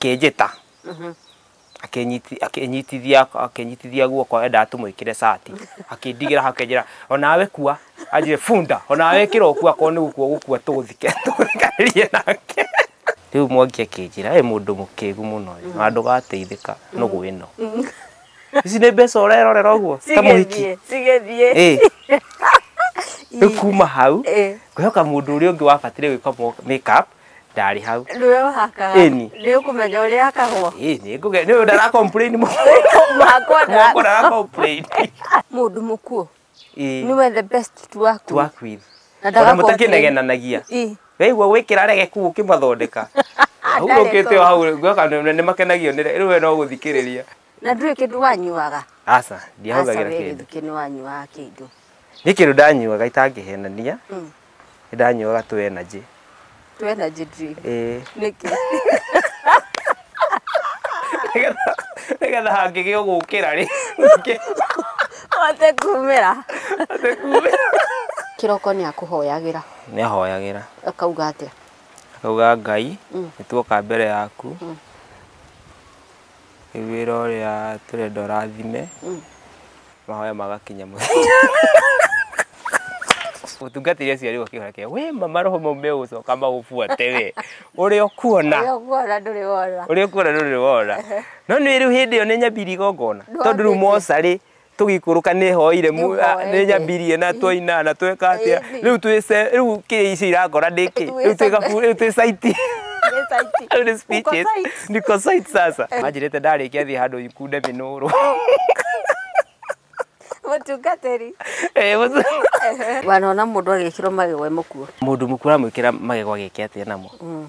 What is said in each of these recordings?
akĩnjĩta akĩnyiti- akĩnyitithia akĩnyitithia guoko endaga tũmwĩkĩre cati akĩndigĩra hau akĩnjĩra onawe kua anjĩre bunda onawe ĩkĩra ũkua korwo nĩ gũkua ũgũkua tũgũthike tũgũthikanirie nake rĩu mwangi akĩnjĩra ĩ mũndũ mũkĩgu mũno ũyũ na ndũgateithĩka nũgũ ĩno ici nĩ mbeca ũrerorera ũguo ta mũhiki cigĩthiĩ cigĩthiĩ Ĩ. rĩu kuma hau Ĩ. ngwĩhoka mũndũ ũrĩa ũngĩ wabatire gwĩka mo- make up ndarĩ hau Nĩwe ũhakaga. Ĩni. Nĩ ũkũmenya ũrĩa hakagwo. Ĩ, nĩ ngũge- nĩ ũyũ ndara complain mũno. Mũhakwo ndara- Mũhakwo ndara complain. Mũndũ mũkuũ. Ĩ, Nĩwe the best to work to with. work with. Na ndaga Ona complain. mũtakĩnegenanagia Ĩ. weigua gwĩkĩra rege kuu ũkĩmathondeka hau Ndarĩ ũkĩte tondũ. hau gũka nĩ makenagio nĩ rĩu we no gũthikĩrĩria Na ndũĩ kĩndũ wanyuaga. aca Aca ndiahũthagĩra we kĩndũ gĩthukĩ nĩ wanyuaga kĩndũ. nĩ kĩndũ ndanyuaga itangĩhenania Mm. Nĩndanyuaga tũ energy. Tũ energy drink. Ĩĩ. Nĩkĩ? Nĩgetha nĩgetha hangĩgĩa ũgũkĩra rĩ, ũke Ũhote kumĩra. ũhote kumĩra. Kĩroko nĩakũhoyagĩra. Nĩahoyagĩra. Akauga atĩa? Akauga Ngai, nĩtuoka mbere yaku. Rĩu wĩra ũrĩa tũrenda ũrathime mahoya magakinya mũthia ũtungatĩri aciari ũkĩhora kĩa we mama roho mau megũcoka magũbuate we ũrĩa ũkuona Ũrĩa ũkuona ndũrĩ wona. ũrĩa ũkuona ndũrĩ wona no nĩ rĩu hĩndĩ ĩyo nĩ nyambiri igongona No tondũ rĩu ndĩkĩ. mocarĩ tũgikũrũka nĩ hoire mu- Nĩ a- hoire. nĩ nyambirie na twaina na tweka atĩa Ĩĩ, nĩ. rĩu twĩce rĩu kĩ icio irangora ndĩkĩ Twĩ rĩu twĩ gabu- rĩu twĩ saiti Nĩ saiti. Rĩu nĩ speeches. Uko saiti. niko saiti sasa manjirĩte ndarĩkia thiĩ handũ ikunde mĩnũrũ Mũtungatĩri. Eh, mũtu- Wanona mũndũ agĩkĩrwo magego e mũkuo. mũndũ mũkuru aramwĩkĩra magego agĩke atĩa namo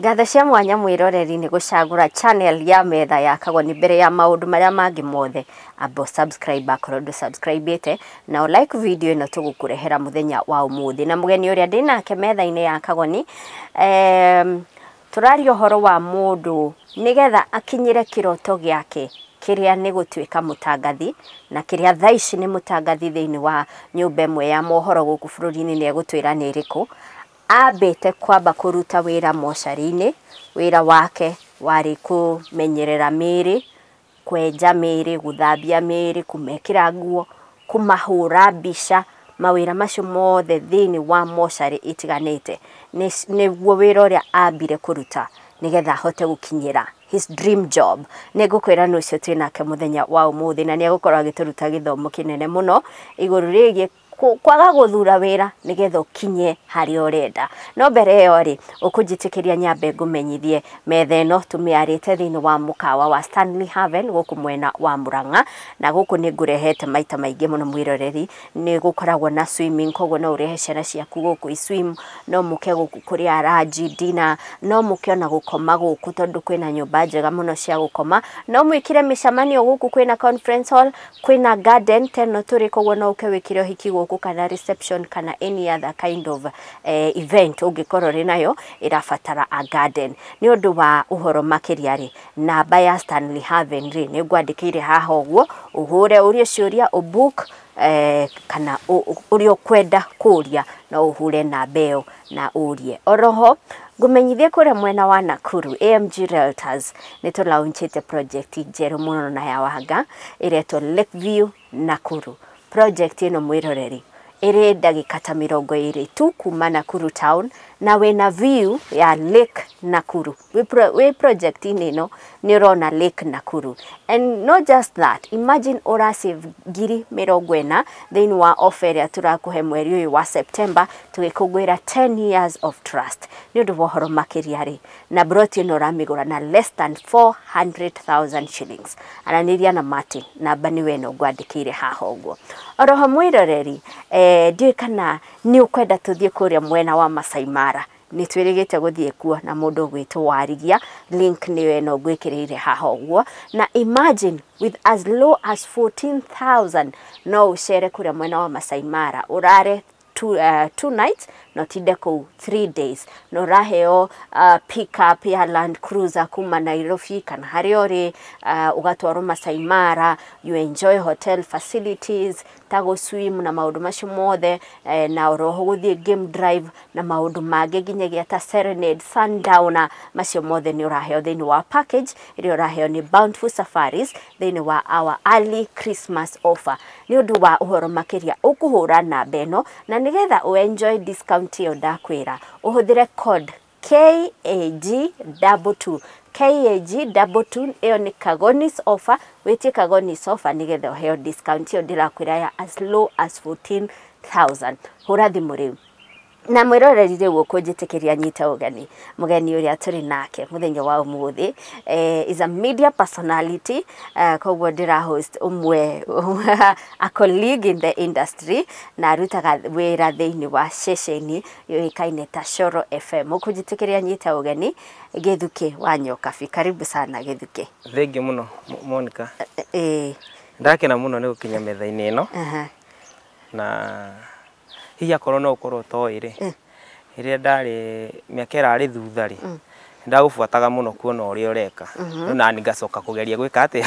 Ngatho cia mwanya mwĩroreri nĩ gũcagũra channel ya metha ya kagoni mbere ya maũndũ marĩa mangĩ mothe amba subscribe akorwo ndũ subscribĩte na ũ like video ĩno tũgũkũrehera mũthenya wa ũmũthĩ na mũgeni ũrĩa ndĩ nake metha-inĩ ya kagoni em, tũraria ũhoro wa mũndũ nĩgetha akinyĩre kĩroto gĩake kĩrĩa nĩ gũtuĩka mũtangathi na kĩrĩa thaa ici nĩ mũtangathi thĩinĩ wa nyũmba ĩmwe ya mohoro gũkũ bũrũri-inĩ nĩ egũtwĩra nĩ ĩrĩkũ Aambĩte kwamba kũruta wĩra mocarĩ-inĩ, wĩra wake warĩ kũmenyerera mĩĩrĩ, kwenja mĩĩrĩ, gũthambia mĩĩrĩ, kũmekĩra nguo, kũmahũra mbica, mawĩra macio mothe thĩinĩ wa mocarĩ ĩtiganĩte nĩguo wĩra ũrĩa aambire kũruta nĩgetha ahote gũkinyĩra his dream job. Nĩ ngũkwĩra nũ ũcio twĩ nake mũthenya wa ũmũthĩ na nĩ egũkorwo agĩtũruta gĩthomo kĩnene mũno igũrũ rĩgiĩ kwaga gũthura wĩra nĩgetha ũkinye harĩa ũrenda. No mbere ĩyo rĩ, ũkũnjĩtĩkĩria nyambe ngũmenyithie metha ĩno tũmĩarĩte thĩinĩ wa mũkawa wa Stanley Haven gũkũ mwena wa Mũrang'a, na gũkũ nĩ ngũrehete maita maingĩ mũno mwĩroreri, nĩ gũkoragwo na swimming koguo no ũrehe ciana ciaku gũkũ i swim, no mũke gũkũ kũrĩa ranji, dinner, no mũke ona gũkoma gũkũ tondũ kwĩna nyũmba njega mũno cia gũkoma, no mwĩkĩre mĩcemanio gũkũ kwĩna conference hall, Kwĩna garden ta ĩno tũrĩ koguo no ũke wĩkĩre ũhiki gũkũ kana reception kana any other kind of event ũngĩkorwo ũrĩ nayo ĩrabatara a garden. Nĩ ũndũ wa ũhoro makĩria rĩ, namba ya Stanley Haven rĩ, nĩ ngwandĩkĩire haha ũguo, ũhũre ũrie ciũria ũ book kana ũrĩa ũkwenda kũria no ũhũre namba ĩyo. na ũrie. Oroho, ngũmenyithie kũrĩa mwena wa Nakuru, AMG Realtors nĩ tũ launchĩte project njerũ mũno na ya wanga ĩretwo Lake View Nakuru. Project ĩno mwĩroreri ĩrĩ ndagĩka ta mĩrongo ĩrĩ tu kuma Nakuru town na wĩna view ya Lake Nakuru. wĩ project inĩ ĩno nĩ ũrona Lake Nakuru and not just that imagine ũra save ngiri mĩrongo ĩna thĩinĩ wa offer ĩrĩa tũrakũhe mweri ũyũ wa September tũgĩkũngũĩra 10 years of trust nĩ ũndũ wa ũhoro makĩria rĩ na broti ĩno ũramĩgũra na less than 400,000 shillings aranĩria na Martin namba nĩ wena ngwandĩkĩire haha ũguo oroho mwĩroreri eh, ndiũĩ kana nĩ ũkwenda tũthiĩ kũrĩa mwena wa Masai Mara Nĩ twĩrĩgĩte gũthiĩ kuo na mũndũ ũgwĩtwo Warigia, link nĩyo ĩno ngwĩkĩrĩire haha ũguo. Na imagine with as low as 14,000 no ũcere kũrĩa mwena wa Masai Mara, ũrare two, uh, two nights na ũtinde kũu three days na ũraheo uh, pick up ya land cruiser kuma nairobi kana harĩa ũrĩ uh, ũgatwarwo masai mara you enjoy hotel facilities ta gũ swim na maũndũ macio mothe, na oro ho gũthiĩ game drive na maũndũ mangĩ nginyagia ta serenade, sundown, macio mothe nĩ ũraheo thĩinĩ wa package ĩrĩa ũraheo nĩ Bountiful Safaris thĩinĩ wa our early Christmas offer. Nĩ ũndũ wa ũhoro makĩria ũkũhũra namba ĩno na nĩgetha ũ enjoy discount ĩyo ndakwĩra, ũhũthĩre code KAG double two. KAG double two ĩyo nĩ Kagonis offer, wĩtie Kagonis offer nĩgetha ũheo discount ĩyo ndĩrakwĩra ya as low as 14,000. Hũra thimũ rĩu. Na mwĩroreri rĩu ũkũnjĩtĩkĩria nyite ũgeni. Mũgeni ũrĩa tũrĩ nake mũthenya wa ũmũthĩ eh, is a media personality eh, koguo ndĩra host ũmwe a colleague in the industry na arutaga wĩra thĩinĩ wa ceceni yũĩkaine ta Coro FM. Ũkũnjĩtĩkĩria nyita ũgeni Gĩthukĩ wa Nyokabi. Karibu sana Gĩthukĩ. Thengiũ mũno Mo- Monica. Ĩĩ. Ndakena mũno nĩ gũkinya metha-inĩ ĩno Aha. na hihi akorwo no ũkorwo ũtoĩ rĩ rĩrĩa ndarĩ mĩaka ĩrarĩ thutha rĩ ndagũbuataga mũno kuona ũrĩa ũreka rĩu nani ngacoka kũgeria gwĩka atĩa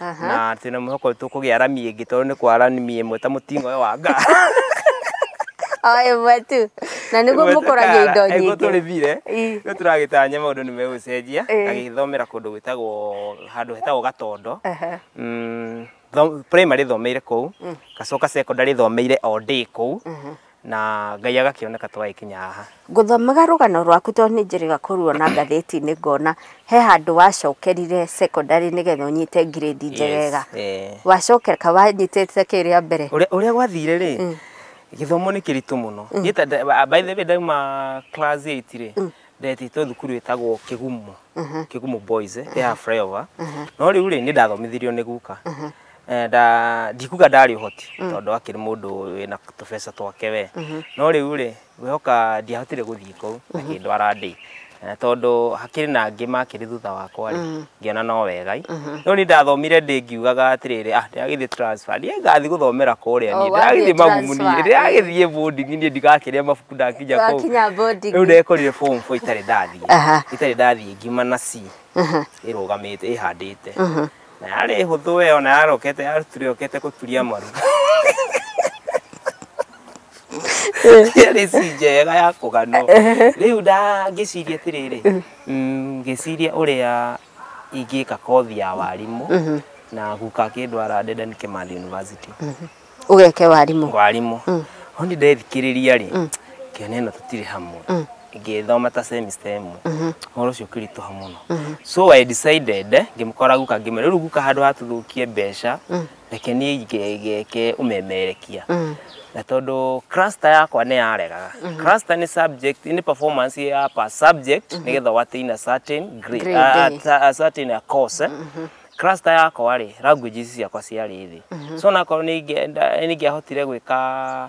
Aha. na twĩna mwĩhoko nĩ tũkũgĩa rami ĩngĩ tondũ nĩ kwa rami ĩmwe ta mũting'o ũyũ wa ngara o ĩmwe tu na nĩguo mũkũragia indo nyingĩ nyingĩ tũrĩthire Ii. rĩu tũragĩtanya maũndũ nĩ megũcenjia Ĩĩ. agĩthomera kũndũ gwĩtagwo handũ hetagwo gatondo Aha. Mm, tho- primary thomeire kũu gacoka secondary thomeire o ndĩ kũu na Ngai agakĩoneka twagĩkinya haha. Ngũthomaga rũgano rwaku tondũ nĩ njĩrĩga kũruona ngathĩti-inĩ ngona he handũ wacokerire secondary nĩgetha ũnyite grade njegega. Eh. Wacokeka wanyitĩte kĩ rĩa mbere? Ũrĩa gwathire rĩ, mm. gĩthomo nĩ kĩritũ mũno. Mm. By the way ndauma class 8 rĩ, mm. ndetĩtwo thukuru ĩtagwo kĩgumo kĩgumo boys eh, ya flyover no rĩu rĩ nĩ ndathomithirio nĩ guka Eh, nda- ndikuga ndarĩ ũhoti tondũ akĩrĩ mũndũ wĩna tũbeca twake we no rĩu rĩ ngwĩhoka ndiahotire gũthiĩ kũu akĩndwara ndĩ Eh, tondũ hakĩrĩ na angĩ makĩrĩ thutha wakwa rĩ ngĩona no wega no ni ndathomire ndĩ ngiugaga atĩrĩrĩ ah ndĩragĩthiĩ transfer niĩ ngathiĩ gũthomera kũrĩa Oh, niĩ wathiĩ ndĩragĩthiĩ magumu niĩ transfer. ndĩragĩthiĩ boarding niĩ ndikakiria mabuku ndakinya kũu Wakinya boarding. rĩu ndekorire form four itarĩ ndathiĩ Aha. itarĩ ndathiĩ ngima na c ĩrũgamĩte ĩhandĩte na yarĩ hũthũ we ona yarokete yarutire yokete gũturia maru yarĩ si njega ya kũganwo rĩu ndangĩciria atĩrĩrĩ Mm, ngĩciria ũrĩa ingĩka kothi ya warimũ na guka akĩndwara Dedan Kimathi University ũgeke warimũ warimũ ho nĩ ndethikĩrĩria rĩ ngĩona ĩno tũtirĩ hamwe ngĩthoma ta semester ĩmwe ũhoro ũcio ũkĩritũha mũno so I decided ngĩmũkora guka ngĩmwĩra rĩu guka handũ ha tũthũkie mbeca reke niĩ nge- ngeke ũmemerekia Mm. na tondũ cluster yakwa nĩ yaregaga cluster nĩ subject nĩ performance ya per subject nĩgetha watain a certain grade, Grade, a, eh. a, a certain a course eh. cluster yakwa rĩ languages ciakwa ciarĩ thĩ so nakorwo nĩ ingĩenda- nĩ ingĩahotire gwĩka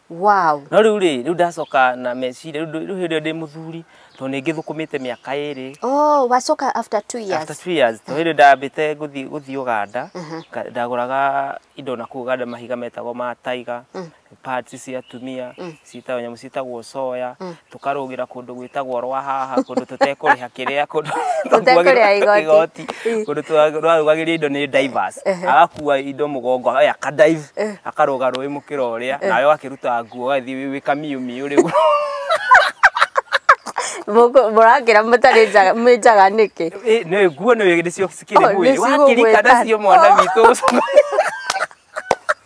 Wow. no rĩu rĩ rĩu ndacoka na meciria rĩu rĩu hĩndĩ ĩyo ndĩ mũthuri tondũ nĩ ngĩthũkũmĩte mĩaka ĩrĩ Oh, wacoka after two years. after two years tondũ hĩndĩ ndambĩte gũthiĩ gũthiĩ Uganda nga- ndagũraga indo na kũu Uganda mahiga metagwo ma taiga parts cia atumia ciĩtagwo nyamũ ciĩtagwo soya tũkarũgĩra kũndũ gwĩtagwo rwa haha kũndũ tũtekũrĩha kĩrĩa kũndũ Tũtekũrĩha igoti. igoti kũndũ twarugagĩria indo nĩ divers agakua indo mũgongo oya ka dive akarũga rũĩ mũkĩra ũrĩa nawe wakĩruta nguo ũgathiĩ wĩ- wĩ kamiũ miũ rĩu Mũkũ- mũrakĩra mũtarĩ njaga mwĩ njaga nĩkĩ Ĩ, nĩ nguo nĩ nĩcio Oh, cikĩrĩ mwĩrĩ nĩcigũgwĩta. wakĩrika nacio mwana witũ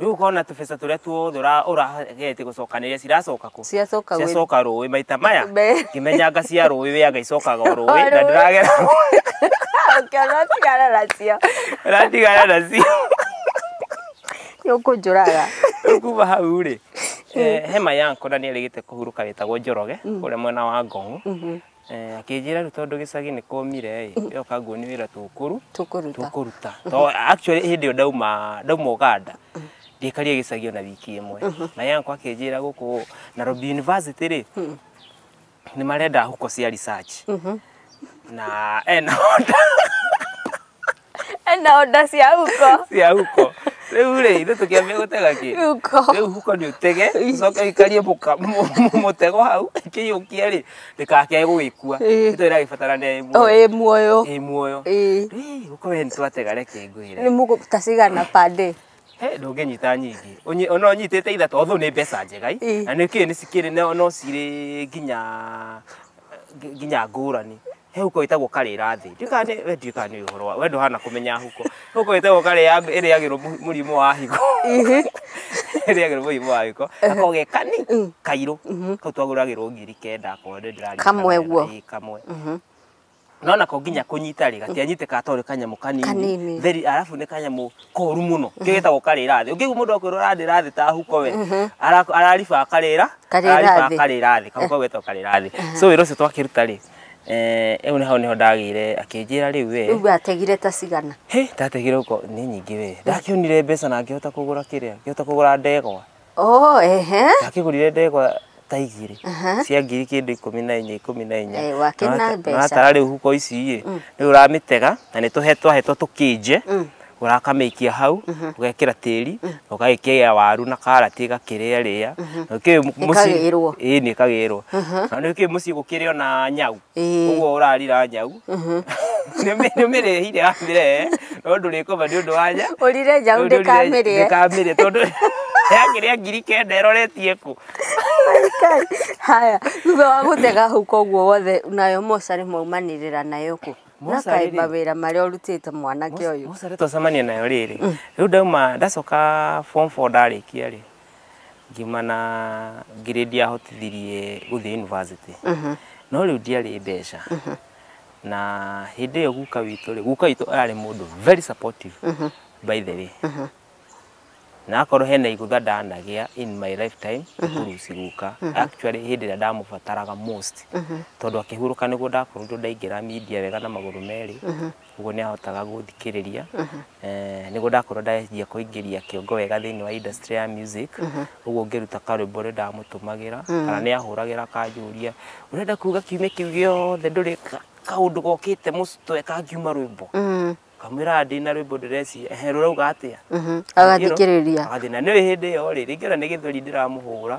Rĩu ũkona tũbeca tũrĩa tuothe ũra- ũrageete gũcokanĩrĩria ciracoka kũ Ciacoka gwĩ- ciacoka rũĩ maita maya Me- ngĩmenyanga cia rũĩ wĩaga icokaga o rũĩ na ndĩragera ũkĩona ũtigana nacio ũratigana nacio nĩũkũnjũraga Rĩu kuma hau rĩ eh, he mayanko na nĩ arĩgĩte kũhurũka wĩtagwo njoroge ũrĩa mwena wa ngong Eh, akĩnjĩra rĩu tondũ gĩcagi nĩ kũmire ĩ yoka nguonie wĩra tũkũru Tũkũruta. tũkũruta to actually hĩndĩ ĩyo ndauma ndauma Uganda ndiekarie gĩcagi ona wiki ĩmwe na yanko akĩnjĩra gũkũ Nairobi University rĩ nĩ marenda huko cia research na ena honda ena onda cia huko cia huko riu ri ithu tukiambia gutega ki huko riu huko ni utege ucoke ikarie muka- mu- mu- mutego hau kiyukie ri ndikakee gugikua Ĩĩ. nito iragibatarania ĩ o muoyo ĩ muoyo ĩ muoyo Ĩĩ. Ĩ, huko we nitwatega reke ngwire nĩ mũgũta cigana pande He, ndũngĩnyita nyingĩ Ũnyi- ona ũnyitĩte ithatũ othũ nĩ mbeca njega i. Ĩ. na nĩ kĩĩ nĩ cikĩrĩ no- no cirĩ nginya ngi- nginya ngũrani he huko ĩtagwo karĩra thĩ Ndiũĩ kana nĩ- we ndiũĩ kana nĩ ũhoro wa we ndũhana kũmenya huko huko ĩtagwo karĩra thĩ ĩrĩagĩrwo mũ- mũrimũ wa higo Ĩhĩ. ĩrĩagĩrwo mũrimũ wa gĩko ako ge kani kairũ kau twagũragĩrwo ngiri kenda akorwo nĩ ndĩrarikana Kamwe wega. guo. Ĩ, kamwe no nako nginya kũnyita rĩ gatianyitĩkaga tondũ nĩ kanyamũ Kanini. kanini theri arabu nĩ kanyamũ koru mũno kĩu gĩtagwo karĩra thĩ ũngĩigua mũndũ akwĩrwo ararĩra thĩ ta huko we ara- arariba akarĩra Karĩra arariba thĩ. akarĩra thĩ kau kau getagwo karĩra thĩ so wĩra ũcio twakĩruta rĩ eh, ĩu nĩ hau nĩho ndagĩire akĩnjĩra rĩu we rĩu ategire ta cigana He, ndategire ũko nĩ nyingĩ we ndakĩonire mbeca na ngĩhota kũgũra kĩrĩa ngĩhota kũgũra ndegwa Oh, ehe. Wakĩgũrire ndegwa ta igĩrĩ Aha. cia ngiri kĩndũ ikũmi na inya ikũmi na inya Eh, wakĩna Na wata- mbeca. na watara rĩu huko ici ĩ rĩu ũramĩtega na nĩ tũhe twahetwo tũkĩnje ũrakamĩikia hau ũgekĩra tĩri na ũgagĩkĩra waru na karati ĩgakĩrĩa rĩa Ĩkagĩrwo. ĩni ĩkagĩrwo na nĩ kĩĩ mũciĩ gũkĩrĩ ona nyau Ĩĩ. ũguo ũrarira nyau nĩmĩrĩhire amĩre no ndũrĩkoma nĩ ũndũ wa nya Ũrire njaũ ndĩkamĩrĩe. ndĩkamĩrĩe tondũ yakĩrĩa ngiri kenda ĩroretie kũ Kai. Haya, thutha wa gũtega hau koguo wothe nayo mocarĩ maumanĩrĩra nayo kũ. Na Mocarĩ rĩ? kaimba wĩra marĩa ũrutĩte mwanake ũyũ. mocarĩ twacemania nayo rĩrĩ rĩu ndauma ndacoka form four ndarĩkia rĩ ngiuma na ngiri ndiahotithirie gũthiĩ yunivasĩtĩ no rĩu ndiarĩ mbeca na hĩndĩ ĩyo guka witũ rĩ guka witũ ararĩ mũndũ very supportive by the way na akorwo hena igũtha ndanagĩa in my lifetime kũruci guka actually hĩndĩ ĩrĩa ndamũbataraga most tondũ akĩhurũka nĩguo ndakorirwo ndaingĩra media wega na magũrũ merĩ Ũguo nĩ ahotaga gũthikĩrĩria. Eh, Nĩguo ndakorwo ndanjia kũingĩria kĩongo wega thĩinĩ wa industry ya music. Ũguo ngĩruta karwĩmbo ũrĩa ndamũtũmagĩra kana nĩ ahũragĩra akanjũria ũrenda kuga kiumia kĩu gĩothe ndũrĩ ka- kaũndũ gokĩte mũc- tweka ngiuma rwĩmbo. Ngamwĩra ndĩ na rwĩmbo ndĩreciria ehe rũrauga atĩa. Agathikĩrĩria. Agathina nĩ hĩndĩ ĩyo rĩ, rĩngĩ ona nĩ gĩthweri ndĩramũhũra,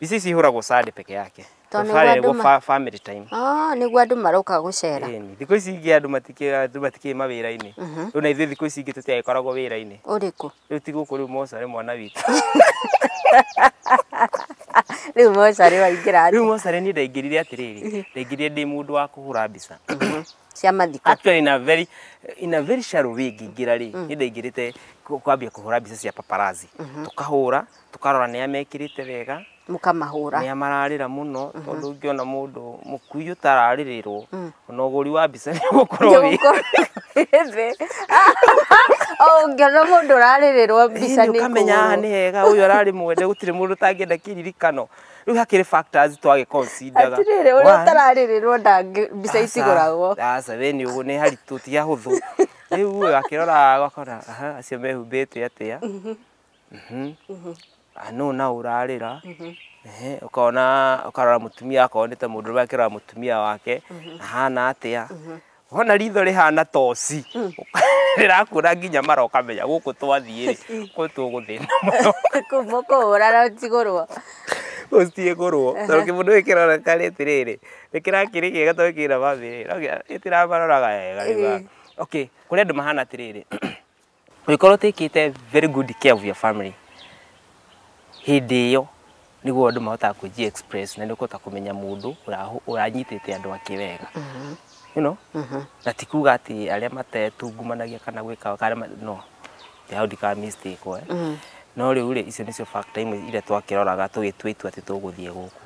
ici cihũragwo sande peke yake To nĩguo Friday andũ nĩguo ma- fa- family time Ah, nĩguo andũ maroka gũcera Ĩni, thikũ ici ingĩ andũ matikĩ- andũ matikĩrĩ mawĩra-inĩ Mhm. rĩu na ithuĩ thikũ ici ingĩ tũtiagĩkoragwo wĩra-inĩ ũrĩkũ rĩu ti gũkũ rĩu mocarĩ mwana witũ rĩu mocarĩ waingĩra rĩu mocarĩ niĩ ndaingĩrire atĩrĩrĩ ndaingĩrire ndĩ mũndũ wa kũhũra mbica cia mathiko actually in a very in a very shallow way ngĩingĩra rĩ nĩ ndaingĩrĩte kũ- kwambia kũhũra mbica cia paparazzi tũkahũra Tũkarora nĩa mekĩrĩte wega. Mũkamahũra. Nĩa mararĩra mũno tondũ ũngĩona mũndũ mũkui ũtararĩrĩrwo ona ũgũri wa mbica nĩ ũgũkorwo wĩ thĩ. O ũngĩona mũndũ ũrarĩrĩrwo mbica nĩ ũkamenya haha nĩ hega ũyũ ararĩ mwende gũtirĩ mũndũ ũtangĩenda kĩririkano. Rĩu hakĩrĩ factors twagĩ consider ga. Atĩrĩrĩ ũrĩa ũtararĩrĩrwo mbica itigũragwo. Aca we nĩ ũguo nĩ haritũ ti hahũthũ. Rĩu ũyũ akĩroraga ũgakora aca acio mehumbĩte atĩa. Mhm. Mhm. Ah, no na urarira Mhm. ehe ukona ukarora mutumia akorwo nite mundu rume akirora mutumia wake ahana atia wona ritho rihana toci rirakura nginya mara ukamenya guku twathie ri kwi tuguthina muno Kuma kũhũra na njigũrwo. ucitie kurwo tondu kimundu giki kironeka ri atiriri ni kirakiri kiega tondu kina famiri no gitiraroraga wega riu Eh. okay kuri andu mahana atiriri Ũngĩkorwo ũtĩkĩte very good care of your family, hĩndĩ ĩyo nĩguo andũ mahotaga kũji express na nĩ ũkũhota kũmenya mũndũ ũra- ũranyitĩte andũ ake wega you know? na ti kuga atĩ arĩa matetungumanagia kana gwĩka kana ma- no nĩ hau ndikaga mistake we no rĩu rĩ icio nĩcio factor imwe iria twakĩroraga tũgĩtua itua atĩ tũgũthiĩ gũkũ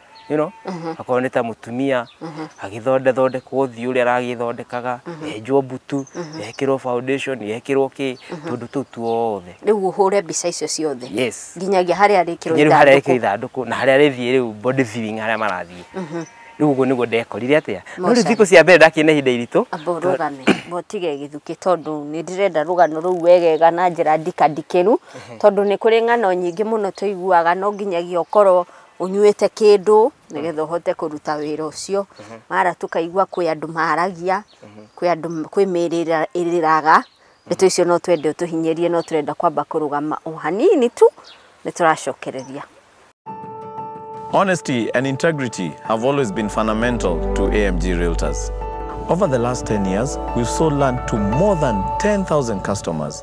you know akorwo nĩ ta mũtumia agĩthonde thondekwo ũthiũ ũrĩa aragĩthondekaga enjwo mbutu ekĩrwo foundation ekĩrwo kĩ tũndũ tũu tuothe rĩu ũhũre mbica icio ciothe yes nginyagia harĩa arĩkĩrwo nginya rĩu harĩa ithandũkũ. ĩkĩrwo ithandũkũ na harĩa rĩthiĩ rĩu body viewing harĩa marathiĩ rĩu ũguo nĩguo ndekorire atĩa no rĩu Mocarĩ. thikũ cia mbere ndakĩne ihinda iritũ amba ũrũgame botige gĩthukĩ tondũ nĩ ndĩrenda rũgano rũu wegega na njĩra ndikandikĩru tondũ nĩ kũrĩ ng'ano nyingĩ mũno tũiguaga no nginyagia ũkorwo ũnyuĩte kĩndũ nĩgetha ũhote kũruta wĩra ũcio mhm. mara tũkaigua kwĩ andũ maragia mhm. kwĩ andũ kwĩ mĩrĩra ĩrĩraga ndeto icio no twende ũtũhinyĩrie no tũrenda kwamba kũrũgama o hanini tu nĩ tũracokereria Honesty and integrity have always been fundamental to AMG Realtors. Over the last 10 years, we've sold land to more than 10,000 customers.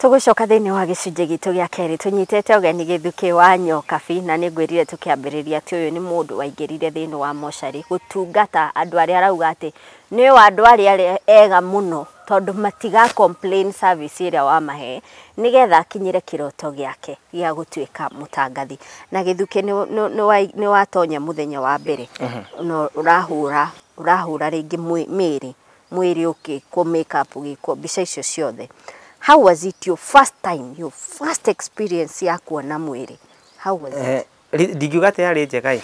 Tũgũcoka thĩinĩ wa gĩcunjĩ gitũ gĩa kerĩ tũnyitĩte ũgeni gĩthukĩ wa Nyokabi na nĩ ngwĩrire tũkĩambĩrĩria atĩ ũyũ nĩ mũndũ waingĩrire thĩinĩ wa mocarĩ gũtungata andũ arĩa arauga atĩ nĩo andũ arĩa ega mũno tondũ matiga complain service ĩrĩa wamahe nĩgetha akinyĩre kĩroto gĩake gĩa gũtuĩka mũtangathi. Na gĩthukĩ nĩ watonya mũthenya wa mbere na ũrahũra rĩngĩ mĩrĩ mwĩrĩ ũgĩkwo make up ũgĩkwo mbica icio ciothe, how was it your first time, your first experience ya kuona mwĩrĩ, how was it? Ndingiuga atĩ yarĩ njega ĩ,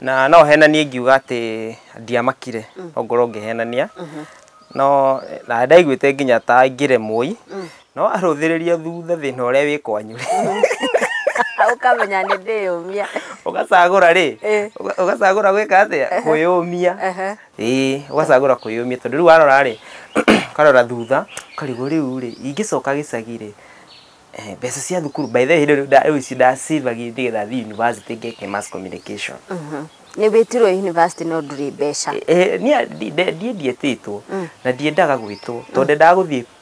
na no henanie ngiuga atĩ ndiamakire no ngorwo ngĩhenania, no na ndaiguĩte nginya ta ingĩremwo i, no warũthĩrĩria thutha thĩna ũrĩa wĩ kwanyu rĩ, Ũkamenya nĩ ndĩyũmia. ũgacagũra rĩ, ũgacagũra gwĩka atĩa, kwĩyũmia. ĩĩ ũgacagũra kũyũmia tondũ rĩu warora rĩ ũkarora thutha ũkarigwo rĩu rĩ ingĩcoka gĩcagi rĩ eh, mbeca cia thukuru by the way hĩndĩ ĩyo nda- rĩu ici ndacĩvagia nĩgetha thiĩ university ngeke mass communication nĩ wĩtirwo university no ndurĩ mbeca Eh, niĩ ndi- ndi- ndiĩ ndietĩtwo na ndiendaga gwĩtwo tondũ ndendaga gũthiĩ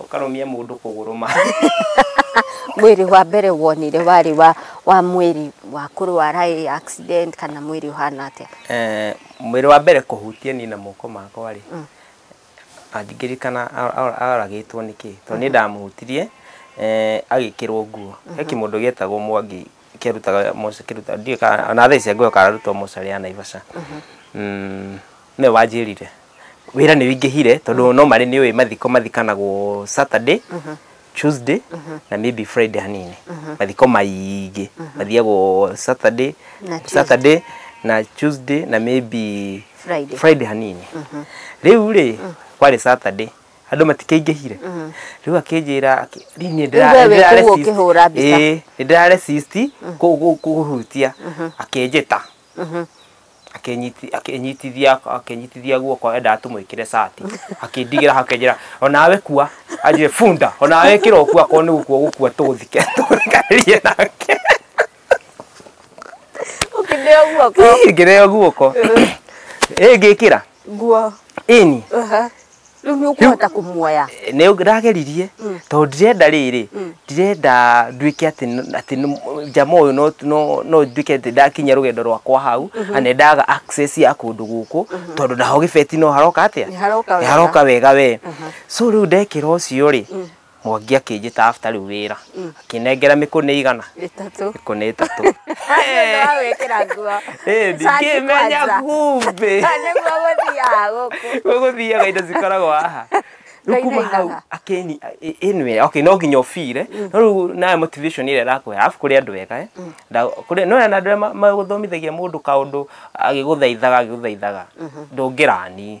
ũkarũmia mũndũ kũgũrũ ma mwĩrĩ wa mbere wonire warĩ wa wa mwĩrĩ wa kũrwara ĩ accident kana mwĩrĩ ũhana atĩa Eh, mwĩrĩ wa mbere kũhutia niĩ na moko makwa rĩ angĩririkana a- a- aragĩtwo nĩ kĩ tondũ nĩ ndamũhutirie eh, agĩkĩrwo nguo he kĩmũndũ gĩetagwo mwangi kĩrutaga moca kĩruta ndiũĩ kana ona thaa ici ngũyo kararutwo mocarĩ ya naivasha Mm, nĩwe wanjĩrire wĩra nĩ wĩingĩhire tondũ no marĩ nĩ ũĩ mathiko mathikanagwo Saturday Tuesday na maybe Friday hanini mathiko maingĩ mathiagwo Saturday Na Tuesday. Saturday na Tuesday na maybe Friday. Friday hanini rĩu rĩ kwarĩ Saturday andũ matikaingĩhire rĩu akĩnjĩra akĩ- rĩu niĩ Rĩu we wĩ kũu ũkĩhũra mbica. nĩndĩraresist kũhutia akĩnjĩta akĩnyiti- akĩnyitithia akĩnyitithia guoko endaga tũmwĩkĩre cati akĩndigĩra hau akĩnjĩra onawe kua anjĩre bunda onawe ĩkĩra ũkua akorwo nĩ gũkua ũgũkua tũthike tũthikanirie nake ũkĩndeo guoko Ih, ngĩreo guoko ĩ ngĩkĩra Nguo. Ĩni. Aha. Rĩu nĩ ũkũhota kũmuoya. Nĩ ndageririe tondũ ndirenda rĩrĩ ndirenda nduĩke atĩ n- atĩ nĩ- njama ũyũ no- no- no nduĩke atĩ ndakinyia rũgendo rwakwa hau na nĩ ndaga access ya kũndũ gũkũ tondũ naho gĩbeti no haroka atĩa Nĩ haroka wega. nĩ haroka wega we so rĩu ndekĩra ũcio rĩ Mwangi akĩnjĩta after rĩu wĩra akĩnengera mĩkũnĩ igana Ĩtatũ. mĩkũnĩ ĩtatũ Nĩ wa gwĩkĩra nguo. Ĩĩ, ndingĩmenya Kwanza. kumbe Nĩguo gũthiaga gũkũ. gũgũthiaga indo cikoragwo haha Rĩu kuma Ngaitha hau igaga. akĩni ĩ- ĩnwe okay no nginya ũbire no rĩu nawe motivation ĩrĩa ĩrakũhe arabu kũrĩ andũ ega eh. Nda- kũrĩ no na andũ arĩa ma- magũthomithagia mũndũ kaũndũ agĩgũthaithaga agĩgũthaithaga ndũngĩrani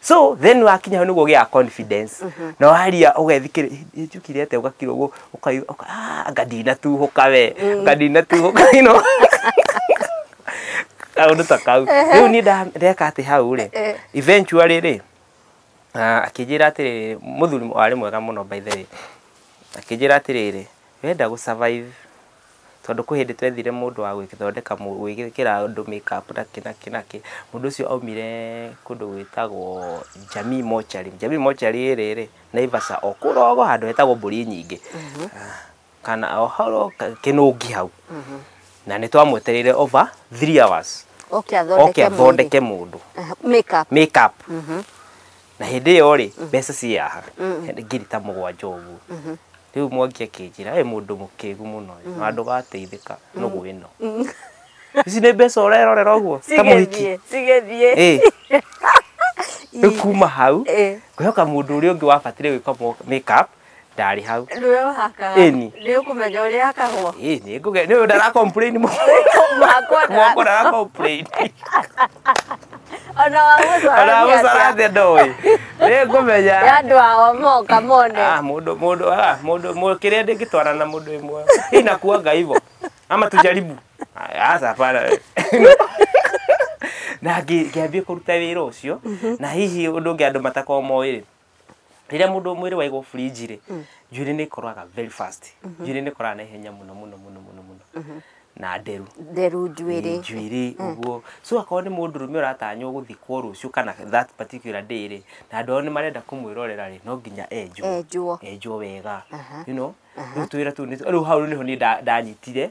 so then wakinya hau niguo gĩa confidence mhm. na waria ũgethikĩrĩ njukire ate ũgakira ũguo ũkaiga ah, anga ndinatuhũka we mm. anga ndinatuhũka ino kaundu ta kau riu ni ndeka ati hau ri eh. eventually ri ah, akĩnjĩra atĩrĩrĩ mũthuri arĩ mwega mũno by the way akĩnjĩra atĩrĩrĩ wenda gũ survive Tondũ kwĩ hĩndĩ twethire mũndũ wa gwĩthondeka, gwĩkĩra andũ make up na kĩ na kĩ na kĩ. Mũndũ ũcio aumire kũndũ gwĩtagwo Jamii Mortuary. Jamii Mortuary ĩrĩ rĩ, Naivasha o kũrogo handũ hetagwo Mbũri Nyingĩ, kana o hau o Kĩnũngi hau. Na nĩ twamwetereire over three hours. Oke athondeke mũndũ. Oke athondeke mũndũ. Make up. Make up. na hĩndĩ ĩyo rĩ mm. mbeca ciaha mm. ngiri ta mũgwanja ũguo mm-hmm. rĩu mwangi akĩnjĩra ĩ mũndũ mũkĩgu mũno mm. na andũ gateithĩka nũgũ ĩno ici nĩ mbeca ũrerorera ũguo ta mũhiki rĩu kuma hau kwĩhoka mũndũ ũrĩa ũngĩ wabatire gwĩka make up ndarĩ hau Nĩwe ũhaka. Ĩni. Nĩ ũkũmenya ũrĩa hakagwo. Ĩ, nĩ ngũge nĩ ũyũ ndara complain mũno Mwakwa ndara- mwako ndara complain Ona wa gũcora ona nĩ gũcora atĩa? thĩ ndoĩ nĩ ngũmenya Ya andũ ao moka mone. Ah, mundu mundu ah, mundu mu- kĩrĩa ndĩngĩtwara na mundu ĩmwe hii nakuanga hivyo ama tujaribu Ah, aca hapana we. na ngĩ- ngĩambia kũruta wĩra ũcio na hihi ũndũ ũngĩ andũ matakorwo moĩ rĩ rĩrĩa mũndũ mwĩrĩ waigwo fridge rĩ mm. njuĩrĩ nĩ ĩkoraga very fast mhm. njuĩrĩ nĩ ĩkoraga na ihenya mũno mũno mũno mũno mũno mhm. na nderu nderu njuĩrĩ njuĩrĩ mm. ũguo so akorwo nĩ mũndũ rũme ũratanywo gũthikwo rũciũ kana that particular day rĩ na andũ ao nĩ marenda kũmwĩrorera rĩ no nginya enjwo enjwo enjwo wega you know rĩu twĩra tũu rĩu hau nĩho niĩ ndanyitire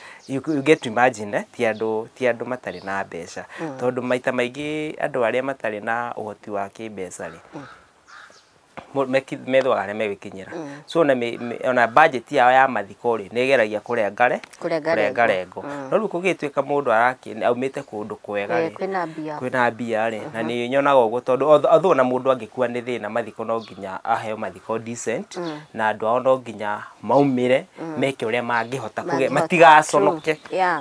you, you get to imagine eh, ti andũ ti andũ matarĩ na mbeca mm. tondũ maita maingĩ andũ arĩa matarĩ na ũhoti wa kĩmbeca rĩ mm methwaga arĩa megwĩkinyĩra mm. so ona ona budget yao ya mathiko rĩ nä geragia kå rengare kå rengo mm. no rä u kå gä tuä ka må ndå aumä te kå ndå kwega eh, kwä na mbia rä na mm-hmm. nä nyonaga å guo tondå otho na må ndå angä kua nä thä na mathiko no nginya aheo mathiko decent mm. na andå ao no nginya maumĩre mm. meke ũrĩa mangĩhota kũgĩa matigaconoke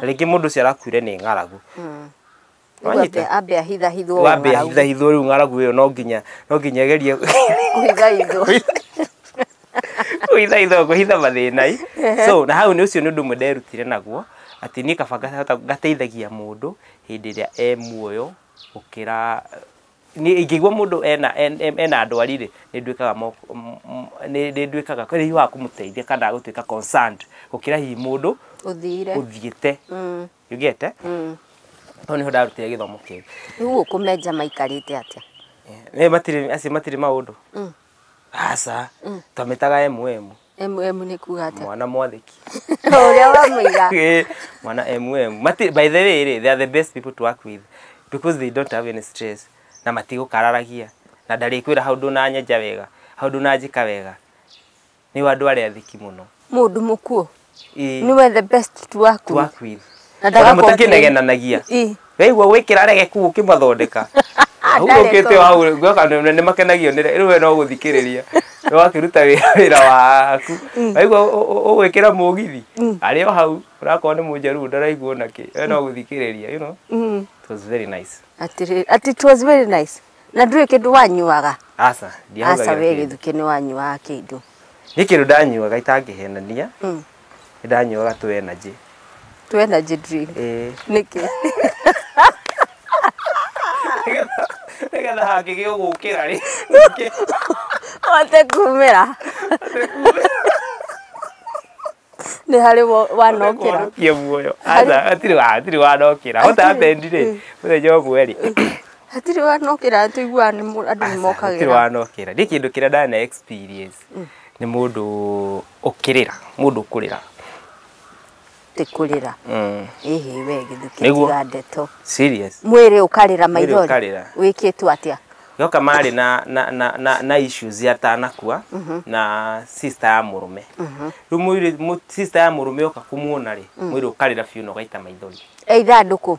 rĩngĩ mũndũ ũcio arakuire nĩ ng'aragu mm. ambe ahithahithwo rĩu ng'aragu ĩyo no nginya no nginya gerie kũhithahithwo kũhitha mathĩnai so na hau nĩ ũcio nĩ ũndũ ũmwe nderutire naguo atĩ niĩ kaba ngateithagia mũndũ hĩndĩ ĩrĩa e muoyo gũkĩra niĩ ingĩigua mũndũ ena en- em- ena ndwari rĩ nĩ nduĩkaga mo- m- m- nĩ nĩ nduĩkaga kwĩ hihi wa kũmũteithia kana gũtuĩka concerned gũkĩra hihi mũndũ ũthire ũthiĩte Mm, yugĩte mm. hau nĩho ndarutire gĩthomo kĩu rĩu gũkũ menja maikarĩte atĩa Eh, matirĩ acio matirĩ maũndũ Mm. aca twamĩtaga emu emu MM nĩ kuga atĩa? mwana mwathĩki Ũrĩa wamũiga. Eh, mwana mm Mati, by the way rĩ they are the best people to work with because they don't have any stress na matigũkararagia na ndarĩkwĩra hau ndũnanyenja wega hau ndũnanjĩka wega nĩ andũ arĩa athiki mũno Mũndũ mũkuũ. Ĩĩ, Nĩwe the best to work to with. work with Na ona ndaga complain. mũtakĩnegenanagia Ii. weigua gwĩkĩra regeku ũkĩmathondeka hurũkĩte wau ngoka nĩ makenagio nĩ rĩu we no gũthikĩrĩria nĩ wakĩruta wĩra wĩra waku waigua ũ- ũ- ũ- ũgwĩkĩra mũgithi arĩ o hau ũrakorwo nĩ mũnjaruo ndaraigua ona kĩ we no gũthikĩrĩria you know Mm. it was very nice Atĩrĩrĩ, ati it was very nice na ndũrĩ kĩndũ wanyuaga aca aca ndiahũthagĩra we kĩndũ. gĩthukĩ nĩ wanyuaga kĩndũ nĩ kĩndũ ndanyuaga itangĩhenania Nĩ ndanyuaga tũ energy. Tũ energy drink. Ĩĩ. Nĩkĩ? Nĩgetha hangĩgĩa ũgũkĩra rĩ. Hote kumĩra. Nĩ harĩ wanokĩra. Hote muoyo. Aca hatirĩ wa hatirĩ wanokĩra. Hote abendi rĩ. Mũthenya ũmwe rĩ. Hatirĩ wanokĩra tũiguaga andũ nĩ mokagĩra. Hatirĩ wanokĩra. Nĩ kĩndũ kĩrĩa ndana experience. mm. nĩ mũndũ ũkĩrĩra mũndũ ũkũrĩra ti kurira mm. ihi we githukitiga ndeto serious mwiri ukarira maithori wikitwo atia yoka mari na na na na, na issues ya tanakua mm -hmm. na sister ya murume mm -hmm. ru mwiri sister ya murume yoka kumuona ri mm. mwiri ukarira fiu no gaita maithori eitha nduku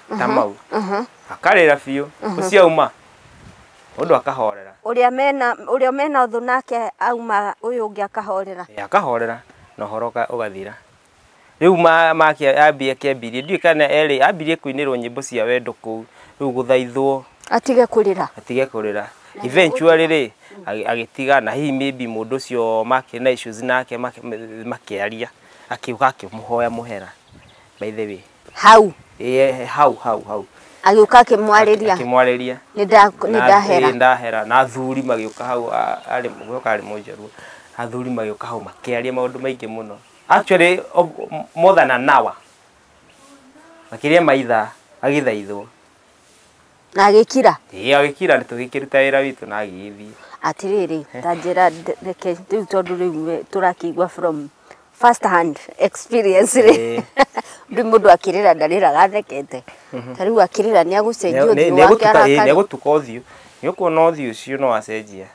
ta mau akarĩra biũ ũciauma mũndũ akahorera ũrĩa mena ũrĩa mena thũ nake auma ũyũ ũngĩ akahorera Ĩ, akahorera na ũhoro ũka- ũgathira rĩu ma- make ambie akĩambirie ndiũĩ kana erĩ ambirie kũinĩrwo nyĩmbo cia wendo kũu rĩu gũthaithwo atige kũrĩra atige kũrĩra eventually rĩ agĩ- agĩtiga na hihi maybe mũndũ ũcio make na issues nake make- makĩaria akĩuga akĩmũhoya mũhera by the way hau ĩĩ hau hau hau agĩũka akĩmwarĩria akĩmwarĩria nĩ nda- nĩ Na- ndahera ĩĩ, ndahera na athuri magĩũka hau a- arĩ gũka arĩ mũnjaruo athuri magĩũka hau makĩaria maũndũ maingĩ mũno actually of- m- more than an hour makĩria maitha agĩthaithwo na agĩkira ĩĩ agĩkira tũgĩkĩruta wĩra witũ na agĩgĩthiĩ atirĩrĩ eh. ta njĩra reke rĩu tondũ rĩu tũrakĩigua from first hand experience rĩ eh. rĩu mũndũ akĩrĩra ndarĩraga athekete mhm. ta rĩu akĩrĩra nĩ agũcenjia ũthiũ wake arakara nĩ agũtuka ũthiũ nĩ ũkuona ũthiũ ũcio no acenjia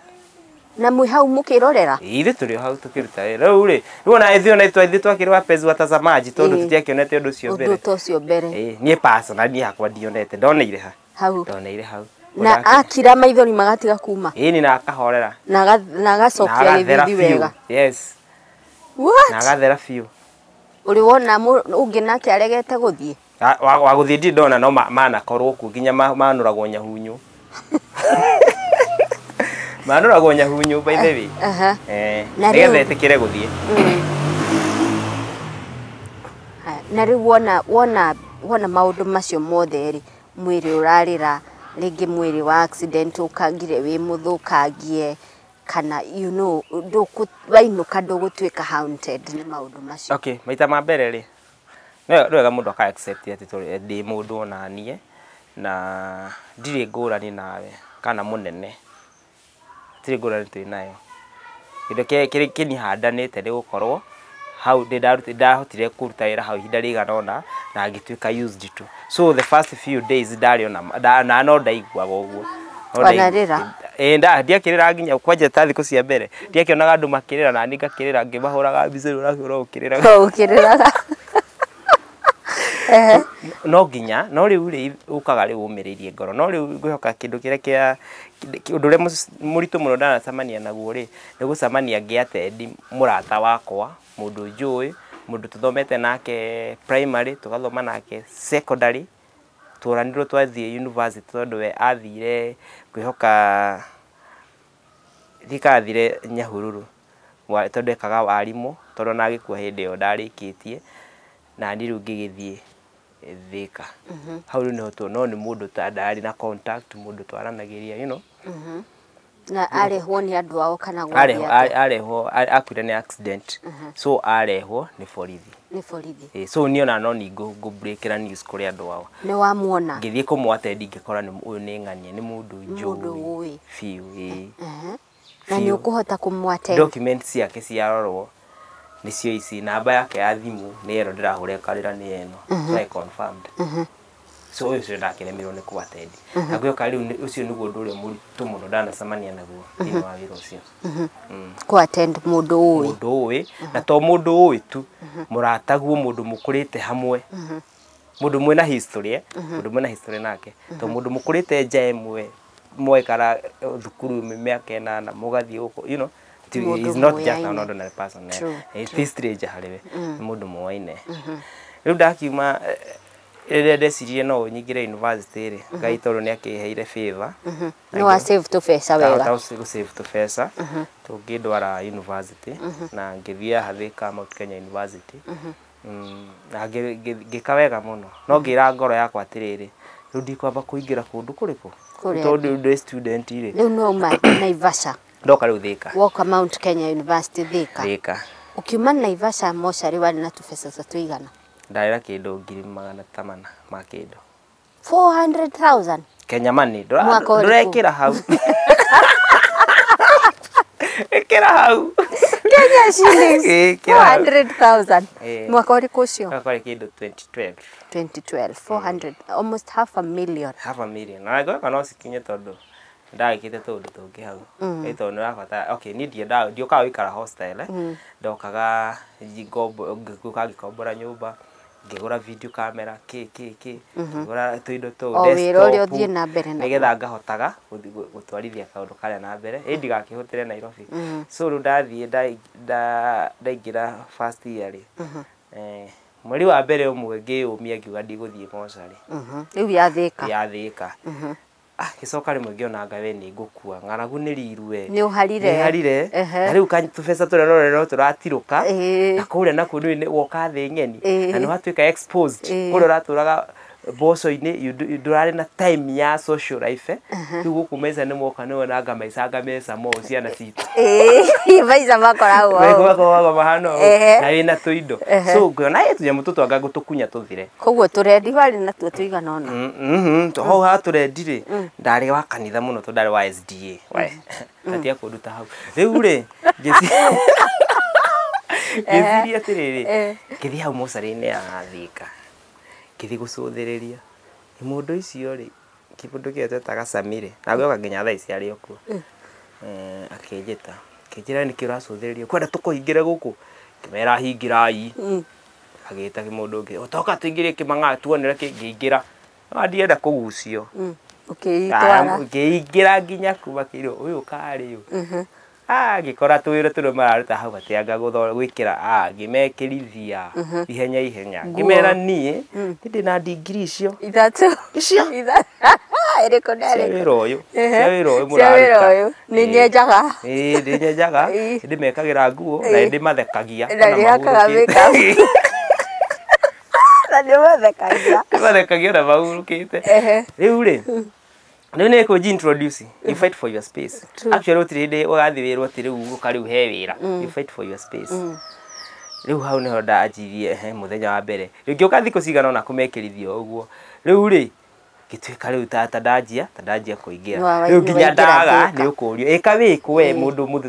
na mwĩ hau mũkĩrorera ithu tå rä o hau tå kä ruta wä rä u rä rä ona ithu ona itwa ithu twakä rä wapenzi watazamaji tondå Ĩĩ. tå tiakionete å ndå å cio mbere ũndũ ta ũcio mbere Ĩĩ, niä pasona niä hakwa ndionete ndoneire ha hau ndoneire hau na Ũndake- akira maithori magatiga kuma ĩĩ ni na akahorera na aga- na na agacokia agathera gĩthithi biũ wega yes na What? agathera biũ ũrĩ wona mũ- ũngĩ nake aregete gũthiĩ Ah, wa- wa gũthiĩ ndirĩ ndona no ma- manakorwo kuo nginya ma- manũragwo nyahunyũ manũragwo nyahunyũ by the way Aha. Eh, Na nĩgetha rĩu- ĩtĩkĩre gũthiĩ Ha, na rĩu wona wona wona maũndũ macio mothe rĩ mwĩrĩ ũrarĩra rĩngĩ mwĩrĩ wa accident ũkangire wĩ mũthũkangie kana you know ndũkũ- wainũka ndũgũtuĩka haunted nĩ maũndũ macio okay maita ma mbere rĩ Nĩ wega mũndũ aka accept atĩ ndĩ mũndũ onaniĩ na ndirĩ ngũrani nawe kana mũnene, gũtirĩ ngũrani twĩ nayo. Kĩndũ kĩrĩa kĩniĩ handanĩte nĩ gũkorwo hau nĩ ndahotire kũruta wĩra hau ihinda rĩigana ũna na ngĩtuĩka used to. so the first few days ndarĩ ona nda- na no ndaiguaga ũguo No ndai- Wanarĩra? Eh, nda- ndiakĩrĩra nginya kwanja ta thikũ cia mbere ndiakĩonaga andũ makĩrĩra na niĩ ngakĩrĩra ngĩmahũraga mbica rĩu ũrakĩhũra ũkĩrĩraga to ukiriraga ehe no nginya no rĩu rĩ ũkaga rĩu ũmĩrĩirie ngoro no rĩu ngwĩhoka kĩndũ kĩrĩa kĩa kĩ- ũndũ ũrĩa mũc- mũritũ mũno ndanacemania naguo rĩ nĩ gũcemania ngĩatendi mũrata wakwa mũndũ njũĩ, mũndũ tũthomete nake primary, tũgathoma nake secondary, tworanirwo twathiĩ university tondũ we athire kwĩhoka, ndiũĩ kana athire Nyahururu tondũ ekaga warimũ, tondũ ona agĩkua hĩndĩ ĩyo ndarĩkĩtie, na niĩ rĩu ngĩgĩthiĩ Thĩka. Hau rĩu nĩho tuonire, no nĩ mũndũ ndarĩ na contact, mũndũ twaranagĩria you know. na arehwo nĩ andũ ao kana arehwo gwake a- arehwo a- akuire nĩ accident so arehwo nĩ borithi nĩ borithi Eh, so niĩ ona no ningũ ngũbrekera news kũrĩ andũ ao nĩ wamuona ngĩthiĩ kũmwatendi ngĩkora nĩ- ũyũ nĩ ng'ania nĩ mũndũ Mũndũ njũĩ ũĩ. biũ ĩĩ. Ehe. na nĩ Biũ. ũkũhota kũmwate document ciake ciarorwo nĩcio ici namba yake ya thimũ nĩ ĩno ndĩrahũrĩkarĩra nĩ ĩno so I confirmed so ũyũ ũcio ndakeremirwo nĩ kũ attend na gwĩoka rĩu nĩ- ũcio nĩguo ũndũ ũrĩa mũritũ mũno ndanacemania naguo thĩinĩ wa wĩra ũcio Mm kũ attend mũndũ ũĩ mũndũ ũĩ na to mũndũ ũĩ tu mũrataguo mũndũ mũkũrĩte hamwe mũndũ mwĩna history eh? mũndũ mwĩna history nake to mũndũ mũkũrĩte nja ĩmwe mwaikara eh, thukuru mĩ- mĩaka ĩnana mũgathiĩ gũkũ you know ti- Mũndũ he's not just an mũyaine. ordinary person eh. True, Eh, ti stranger harĩ we nĩ mũndũ mũwaine rĩu ndakiuma eh, Rĩrĩa ndeciririe no nyingĩre yunivasĩtĩ-rĩ, mhm. Ngai tondũ nĩ akĩheire favor. Mhm. Nĩ wa save tũbeca wega. Ndahota gũ save tũbeca mhm. tũngĩndwara yunivasĩtĩ na ngĩthiĩ haha Thika Mount Kenya University. Mm, na ngĩka wega mũno. No ngĩra ngoro yakwa atĩrĩrĩ, rĩu ndikwamba kũingĩra kũndũ kũrĩkũ? Tondũ ndĩ student-rĩ. Rĩu no uma Naivasha. Ndoka rĩu Thika. Woka Mount Kenya University Thika. Thika. Ukiuma Naivasha mocarĩ warĩ na tũbeca ta tũigana? ndarĩra kĩndũ ngiri magana ta mana ma kĩndũ 400,000 kenya mani ndũra- Mwaka ũrĩkũ? ndũrekĩra hau ĩkĩra hau Kenya shillings Eh, kila- 400,000 Eh. mwaka ũrĩkũ ũcio gakwarĩ kĩndũ 2012 2012 400 almost half a million half a million na ngweka no cikinye tondũ ndagĩkĩte tũũndũ tũngĩ hau mm. ĩtondũ nĩ ũrabatara okay niĩ ndiendaga ndiokaga gũikara hostel eh? mm. ndokaga ngĩũka ngĩkombora nyũmba ngĩgũra video camera kĩ kĩ kĩ mhm. ngĩgũra tũindo tũu nĩgetha ngahotaga gũtwarithia kaũndũ karĩa na mbere ĩ ndigakĩhũtĩre Nairobi mhm. so rĩu ndathiĩ ndaingĩra first year rĩ mhm. eh, mweri wa mbere ũmwe ngĩyũmia ngiuga ndigũthiĩ mocarĩ rĩu yathĩka yathĩka Ah, gĩcoka rĩmwe ngĩonanga we nĩ ngũkua ng'aragu nĩ riru we Nĩ ũharire. Nĩ harire Ehe. na rĩu ka- tũbeca tũrĩa none no tũratirũka Ĩĩ. na kũrĩa nakuo nĩ nĩ woka thĩ ng'eni Ĩĩ. na nĩ watuĩka exposed Ĩĩ. kũrĩa ũratũraga mboco-inĩ you do- you ndũrarĩ na time ya social life rĩu gũkũ maica nĩ moka nĩ wonanga maicanga meca mo ciana citũ Ĩĩ, maica makoragwo Maigua ũũ. koragwo mahana ũũ, Ehe. na wĩna tũindo Ehe. so ngĩona ĩ tũnyamũ tũtwanga gũtũkunya tũthire koguo tũrendi warĩ natuo tũigana ũna Mhm, to hau ha tũrendi rĩ ndarĩ wa kanitha mũno tondũ ndarĩ wa sda we katia kũnduta hau rĩu rĩ ngĩci- ngĩciria atĩrĩrĩ Eh. ngĩthiĩ hau mocarĩ-inĩ ya thika ngĩthiĩ gũcũthĩrĩria nĩ mũndũ icio rĩ kĩbũndũ kĩo twetaga cami rĩ na gĩoka nginya thaa ici arĩ o kuo Eh, akĩnjĩta akĩnjĩra nĩkĩ ũracũthĩrĩria kwenda tũkũhingĩre gũkũ ngĩmera hingĩrai agĩta mũndũ ũngĩ ũtoka tũingĩrie kĩmang'aa tuonere kĩngĩingĩra Ah, ndienda kũgucio Mm. Ũkĩitwara. ngĩingĩra nginya kuma kĩrĩ ũyũ karĩ ũyũ Mhm. Ah, ngĩkora tũwĩra tũrĩa mararuta hau atĩ anga gũtho- gwĩkĩra ah, ngĩmekĩrithia ihenya ihenya Nguo. ngĩmera niĩ ndĩ na ndingiri icio Ithatũ. Icio. Ithatũ. Ĩrĩkũ na cia ĩrĩkũ? wĩra ũyũ Ehe. cia wĩra ũyũ Cia wĩra mũraruta ũyũ. nĩ nyenjaga ĩĩ nĩ nyenjaga Ĩĩ. nĩ ndĩmekagĩra nguo na nĩ ndĩmathekagia na ona nĩhakaga mahurũkĩte. makeup na nĩmathekagia ndĩmathekagia ona mahurũkĩte Ehe. rĩu rĩ rĩu nĩ kũnji introduce you fight for your space True. actually gũtirĩ hĩndĩ ũgathiĩ wĩrwo atĩ rĩu ũka rĩu he wĩra you fight for your space rĩu hau nĩho ndanjirie he mũthenya wa mbere rĩngĩ ũka thikũ cigana ona kũmekĩrithia ũguo rĩu rĩ ngĩtuĩka rĩu ta ta ndanjia ta ndanjia kũingĩra Nĩ wa- rĩu nĩ nginya waingĩra ndaga thĩka. nĩ ũkũrio ĩka wĩkũ we Ĩĩ. mũndũ mũndũ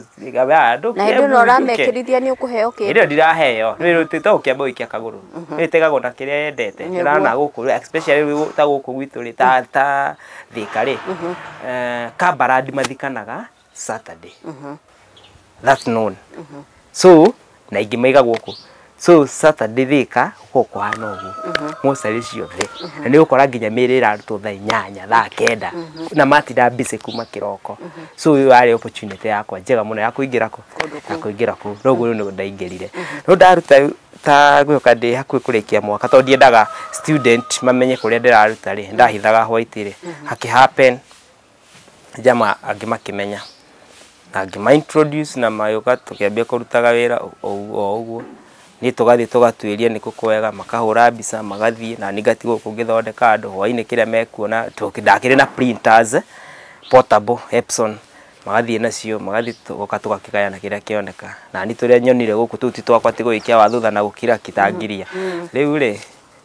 andũ na hĩndĩ ĩno ũramekĩrithia nĩ ũkũheo kĩndũ Ndio ndiraheo. Ndio tete ukiamba uikia kaguru. Ndio tegagwo na kiria yendete. Nĩguo. Ndirana guku rĩ, especially rĩu ta guku gwitũ rĩ ta ta thika rĩ. Eh kabarandi mathikanaga saturday that noon so na ingĩ maiga gũkũ so saturday thika gũkorwo kũhana ũguo mocarĩ ciothe na nĩ ũkora nginya mĩrĩ ĩrarutwo thaa inyanya thaa kenda na matinda busy kuma kĩroko so ũyũ yarĩ opportunity yakwa njega mũno ya kũingĩra kũ ya kũingĩra kũ noguo rĩu nĩguo ndaingĩrire no ndaruta ta gwĩka ndĩ hakuhĩ kũrĩkia mwaka tondũ ndiendaga student mamenye kũrĩa ndĩraruta rĩ ndahithaga white rĩ hakĩ happen Jamaa angĩ makĩmenya, na ngĩma introduce na magĩũka tũkĩambia kũrutaga wĩra o ũguo o ũguo, niĩ tũgathiĩ tũgatuĩria nĩ kũ kwega, makahũra mbica magathiĩ, naniĩ ngatigwo gũkũ ngĩthondeka andũ, hwainĩ kĩrĩa mekuona, tondũ ndakĩrĩ na printers portable Epson, magathiĩ nacio, magathiĩ tũgoka tũgakĩgayana kĩrĩa kĩoneka, naniĩ tũrĩa nyonire gũkũ tũu ti twakwa ti gũgĩikia wathutha na gũkira ki ta ngiria, rĩu rĩ,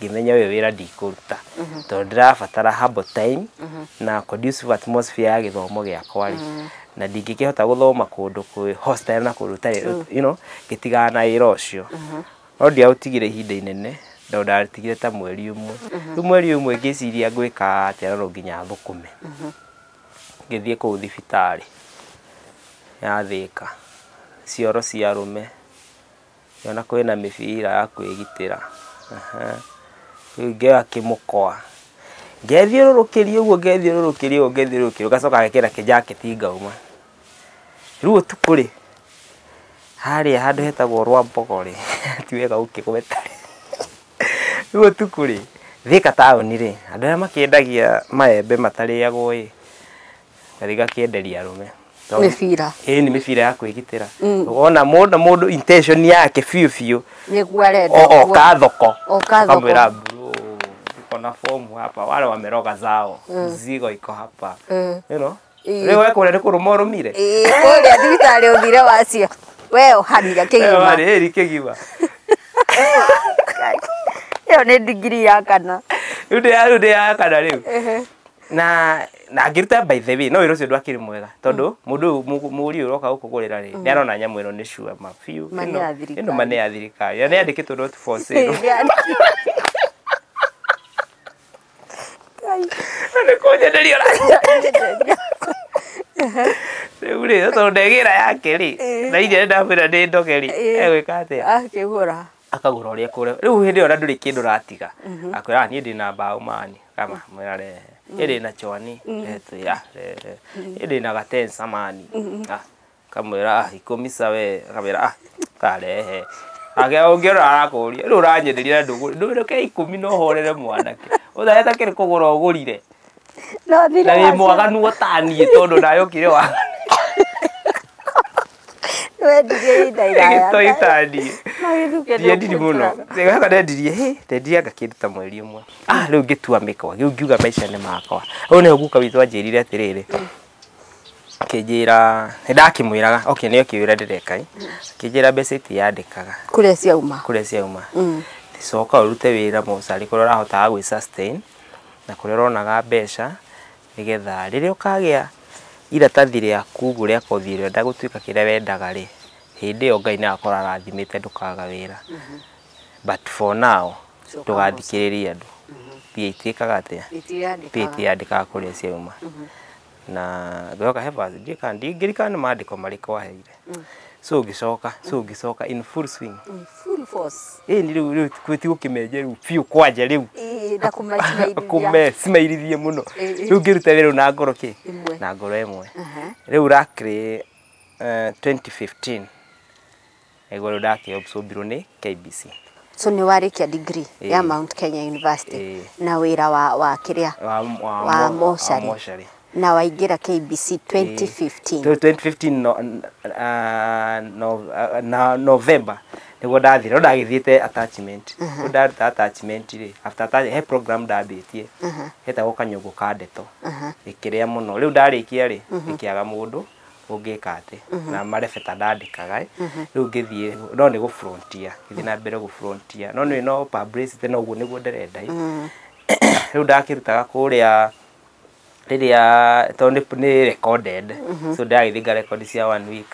ngĩmenya ũyũ wĩra ndikũruta mhm. tondũ ndĩrabatara humble time mhm. na conducive atmosphere ya gĩthomo gĩakwa rĩ mhm. na ndingĩkĩhota gũthoma kũndũ kwĩ hostile na kũndũ tarĩ you know gĩtigana na wĩra ũcio no ndiaũtigire ihinda inene tondũ ndatigire ta mweri ũmwe rĩu mweri ũmwe ngĩciria ngwĩka atĩa rorwo nginya thũkũme ngĩthiĩ kũu thibitarĩ ya thĩka cioro cia rũme Ngĩona kwĩna mĩbira ya kwĩgitĩra. Rĩu ngĩoya kĩmũkwa, ngethiũrũrũkĩria ũguo ngethiũrũrũkĩria ũguo ngethiũrũrũkĩria ũguo, ngacoka ngekĩra kĩnjaketi ngauma. Rĩu ũtukũ rĩ, harĩa handũ hetagwo Rwambogo rĩ, ti wega gũkĩgweta rĩ, rĩu ũtukũ rĩ, Thĩka taũni rĩ, andũ arĩa makĩendagia maembe matarĩagwo ĩ, gathi gakienderia arume mibira ĩĩ nĩ mĩbira ya kwĩgitĩra mm. wona mũndũ mũndũ intention yake biũ biũ nĩguo arenda oka thoko oka thoko kamwĩra bro uko na fomu hapa wale wameroga zao mm. zigo iko hapa mm. you know rĩu wekũrĩa nĩ kũrũma ũrũmire kũrĩa thibitarĩ ũthire wacio we ũhanire kĩgima rĩrĩ kĩgima ĩyo nĩ ndigiri ya kana rĩu ndĩ ya kana rĩu na na ngĩruta by the way no wĩra ũcio ndwakĩrĩ mwega tondũ mũndũ ũyũ mũgũ- mũgũri ũyũ ũroka gũkũgũrĩra rĩ nĩ arona nyamũ ĩno nĩ sure ma biũ Ma nĩ ĩno- ya thirikari. ĩno ma nĩ ya thirikari na nĩ yandĩkĩtwo not for sale Na nĩ kũnyenderia ũra- rĩu rĩ tondũ ndegĩra yake rĩ na iria ndamwĩra nĩ ndoge rĩ egwĩka atĩa akĩgũra akagũra ũrĩa kũrĩa rĩu hĩndĩ ĩyo na ndũrĩ kĩndũ ũratiga mhm. akwĩra niĩ ndĩ na mbaũ mani kama mwĩra rehe mhm. ĩrĩ na chwani mhm. retwĩra rehe ĩrĩ na gatensa mani ah, kamwĩra ah, ikũmisa we kamwĩra ah, karehe ake ũngĩona arakũria rĩu ũranyenderia ndũgũrĩ ndũgũrĩ ke ikũmi no horere mwanake ũthaeta kĩrĩ kũgũra ũgũrire na wĩ mwaganu ũtaniĩ tondũ nayo kire wa nĩwendirie ihinda iraya gĩtoi taniĩ Magĩthukĩte ndiendiri mũno gũkũnjũraga. Rĩu haka ndendirie hĩ ndendirie anga kĩndũ ta mweri ũmwe ah rĩu ngĩtua mĩkwa rĩu ngiuga maica nĩ makwa rĩu nĩho guka witũ anjĩrire atĩrĩrĩ akĩnjĩra nĩndakĩmwĩraga okay nĩyo kĩwĩra ndĩreka ĩ akĩnjĩra mbeca itiyandĩkaga kũrĩa ciauma kũrĩa ciauma Mm. coka ũrute wĩra mũcarĩ kũrĩa ũrahotaga gwĩ sustain na kũrĩa ũronaga mbeca Nĩgetha rĩrĩa ũkagĩa iratathi rĩaku ũguo rĩa kothi ĩrĩa ũrenda gũtuĩka kĩrĩa wendaga rĩ, hĩndĩ ĩyo Ngai nĩ agakorwo arathimĩte ndũkaga wĩra. But for now, ndũgathikĩrĩrie andũ. Mbia itiĩkaga atĩa? Mbia itiandĩkaga kũrĩa ciauma. Na ngoka he verse, ndiũĩ kana, ndingĩririkana nĩ mandĩko marĩkũ aheire. so ngĩcoka so ngĩcoka in full swing In full force. ĩĩ ni rĩu rĩu kwĩ ti gũkĩmenje rĩu biũ kwanja rĩu Ĩĩ, na kũmaicirairia. kũmecimairithie mũno Ĩĩ. rĩu ngĩruta wĩra ũyũ na ngoro kĩ Ĩmwe. na ngoro ĩmwe Aha. rĩu rakĩrĩ eh, 2015 nĩguo rĩu ndakĩobsombirwo nĩ KBC So nĩ warĩkia degree Ĩĩ. ya Mount Kenya University Ĩĩ. na wĩra wa wa kĩrĩa wa, wa, wa mo- mocarĩ. mocarĩ. Na waingĩra KBC 2015. 2015 no, ah, no, ah, na November niguo ndathire no ndagithiite attachment no ndaruta attachment rĩ after attach- he program ndambĩtie hetagwo kanyũngũ ka ndeto ĩkĩrĩa mũno rĩu ndarĩkia rĩ ĩkĩaga mũndũ ũngĩka atĩ na marebeta ndandĩkaga ĩ. rĩu ngĩthiĩ no nĩ gũbrontia ngĩthiĩ na mbere gũbrontia no nĩ no publicity no ũguo nĩguo ndĩrenda ĩ. rĩu ndakĩrutaga kũrĩa rĩrĩa tondũ nĩ nĩ recorded so ndagĩthiĩ nga record cia one week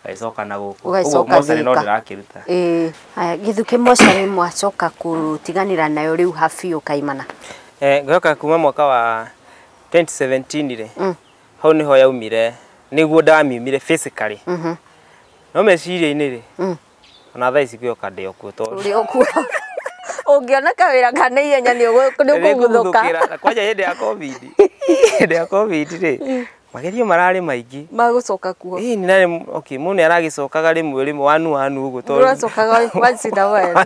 ngagĩcoka na gũkũ Ũguo Ũgagĩcoka mocarĩ no thika. ndĩrakĩruta Ĩĩ, haya, gĩthukĩ mocarĩ mwacoka kũtiganĩra nayo rĩu ha biũ kaimana Eh, ngĩoka kuma mwaka wa 2017 rĩ Mm. hau nĩho yaumire nĩguo ndamiumire physically no meciria-inĩ rĩ Mm. ona thaa ici gĩoka ndĩ okuo tondũ ũrĩ okuo ũngĩona kawĩra ka na ihenya nĩ ũkũguthũka Nĩngũguthũkĩra. kwanja hĩndĩ ya covid hĩndĩ ya covid rĩ magerio mararĩ maingĩ magũcoka kuo Ĩĩ, nĩ narĩ okay mũndũ nĩ aragĩcokaga rĩmwe rĩmwe wanu wanu ũguo tondũ ũracokaga once in a while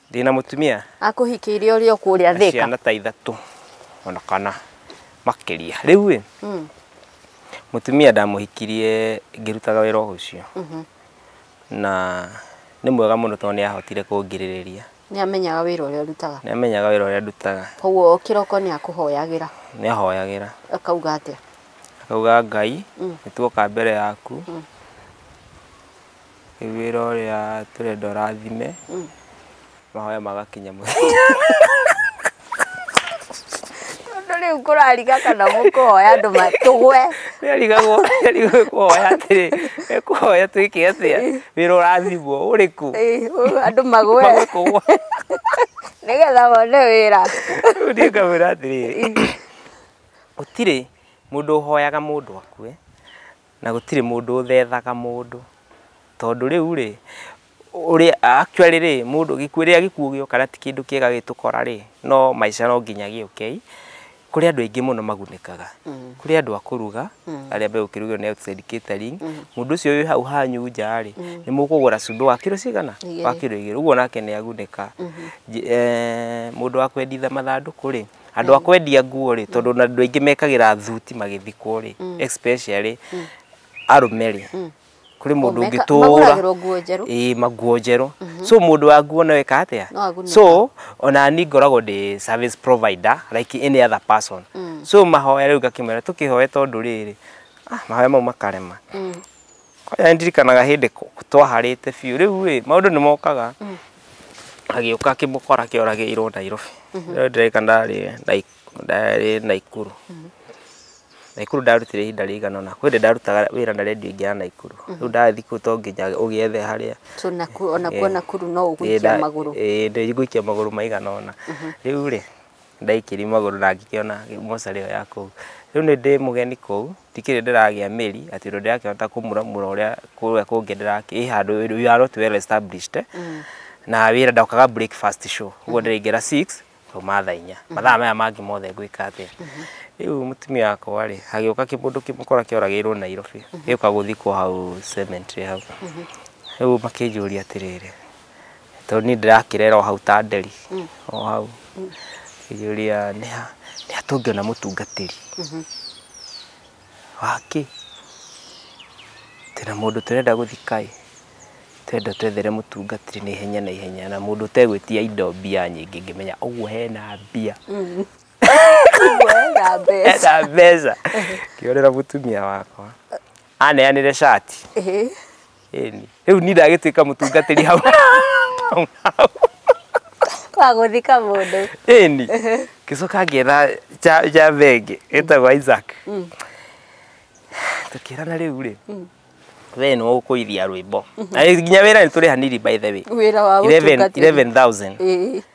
ndĩna mũtumia akũhikĩire ũrĩ o kũrĩa thĩka ciana ta ithatũ ona kana makĩria rĩu ĩ Mm, mũtumia ndamũhikirie ngĩrutaga wĩra o ũcio mhm. na nĩ mwega mũno tondũ nĩ ahotire kũngirĩrĩria nĩ amenyaga wĩra ũrĩa ũrutaga nĩ amenyaga wĩra ũrĩa ndutaga koguo kĩroko nĩ akũhoyagĩra nĩ ahoyagĩra akauga atĩa akauga ngai Mm. nĩ tuoka mbere yaku Rĩu wĩra ũrĩa tũrenda ũrathime, mahoya magakinya mũthia. Tondũ rĩu kũrariga kana mũkũhoya andũ ma- tũgwe Nĩarigagwo nĩarigagwo kũhoya atĩrĩ, ekũhoya twĩke atĩa? Wĩra ũrathimwo ũrĩkũ? Ĩ, ũ- andũ magwe Magwe kũgwa. nĩgetha mone wĩra Rĩu niĩ ngamwĩra atĩrĩ, gũtirĩ mũndũ ũhoyaga mũndũ akue, Na gũtirĩ mũndũ ũthethaga mũndũ, tondũ rĩu-rĩ, ũrĩa, actually rĩ, mũndũ, gĩkuũ, rĩrĩa gĩkuũ gĩoka na ti kĩndũ kĩega gĩgĩtũkora rĩ, no maica no nginya gĩũke i, kũrĩ andũ aingĩ mũno magunĩkaga. Kũrĩ andũ a kũruga, arĩa megũkĩrugĩrwo nĩ outside catering, mũndũ ũcio wĩ hau hanyu nja-rĩ, nĩ mũkũgũra cumbĩ wa kiro cigana? Wa kiro igĩrĩ, ũguo nake nĩ agunĩka. Mũndũ wa kwenditha mathandũkũ-rĩ. andå a kwendia nguo rä tondå na andå aingä mekagä thuti magithikwo rä mm. especially mm. arũme rä mm. kuri mundu ngitura ii maguo njeru mhm. so mundu wa nguo nawe ka atia so ona ni ngoragwo ndi service provider like any other person so mahoya riu ngakimera tukihoya tondu riri ah, mahoya mau makarema Nĩ ndirikanaga hĩndĩ twaharĩte biũ rĩu ĩ maũndũ nĩ mokaga mm. agĩũka kĩmũkora kĩoragĩirwo Nairobi mm-hmm. rĩu ndĩreka ndarĩ ndarĩ Naikuru mm-hmm. Naikuru ndarutire ihinda rĩigana ũna kwĩ ndĩ ndarutaga wĩra na redio ingĩ ya Naikuru mm-hmm. rĩu ndathiĩ kũu to nginya ũgĩethe harĩa ona kuo eh, Nakuru no ũgũikia eh, magũrũ ĩĩ eh, ndĩgũikia magũrũ maigana ũna rĩu rĩ ndaikĩri magũrũ na ngĩkĩona mocarĩ ĩyo ya kũu. Rĩu nĩ ndĩ mũgeni kũu, ndikĩrĩ ndĩragĩa mĩri atĩ ũndũ ndĩrakĩhota kũmuramura ũrĩa kũrĩa kũngĩ ndĩrakĩ, ĩ handũ we are not well established. Na wĩra ndokaga breakfast show, ũguo ndĩraingĩra six ngauma thaa inya. Mathaa maya mangĩ mothe ngwĩka atĩa? Rĩu mũtumia wakwa rĩ, hagĩũka kĩmũndũ kĩmũkora kĩoragĩirwo Nairobi, gĩũka gũthikwo hau cemetery hau. Rĩu makĩnjũria atĩrĩrĩ, tondũ niĩ ndĩrakĩrera o hau ta nderi o hau ngĩyũria nĩ ha nĩ ha tũngĩona mũtungatĩri wakĩ tena mũndũ tũrenda gũthika ĩ twenda twethere mũtungatĩri na ihenya na ihenya na mũndũ ũtegwĩtia indo mbia nyingĩ ngĩmenya ũguo hena mbia Wega mbeca. hena mbeca ngĩhũrĩra mũtumia wakwa aneanĩre cati Ĩhĩ. Ĩni. Rĩu niĩ ndagĩtuĩka mũtungatĩri hau. Wa gũthika mũndũ. Ĩni. Ngĩcoka ngĩetha ja- java ĩngĩ ĩtagwo Isaac. Tũkĩrana rĩu rĩ. We nĩ ũkũithia rwĩmbo. Na nginya wĩra nĩ tũrĩhanĩirie by the way. Wĩra wa 11 gũtungatĩri. 11,000. Ĩĩ.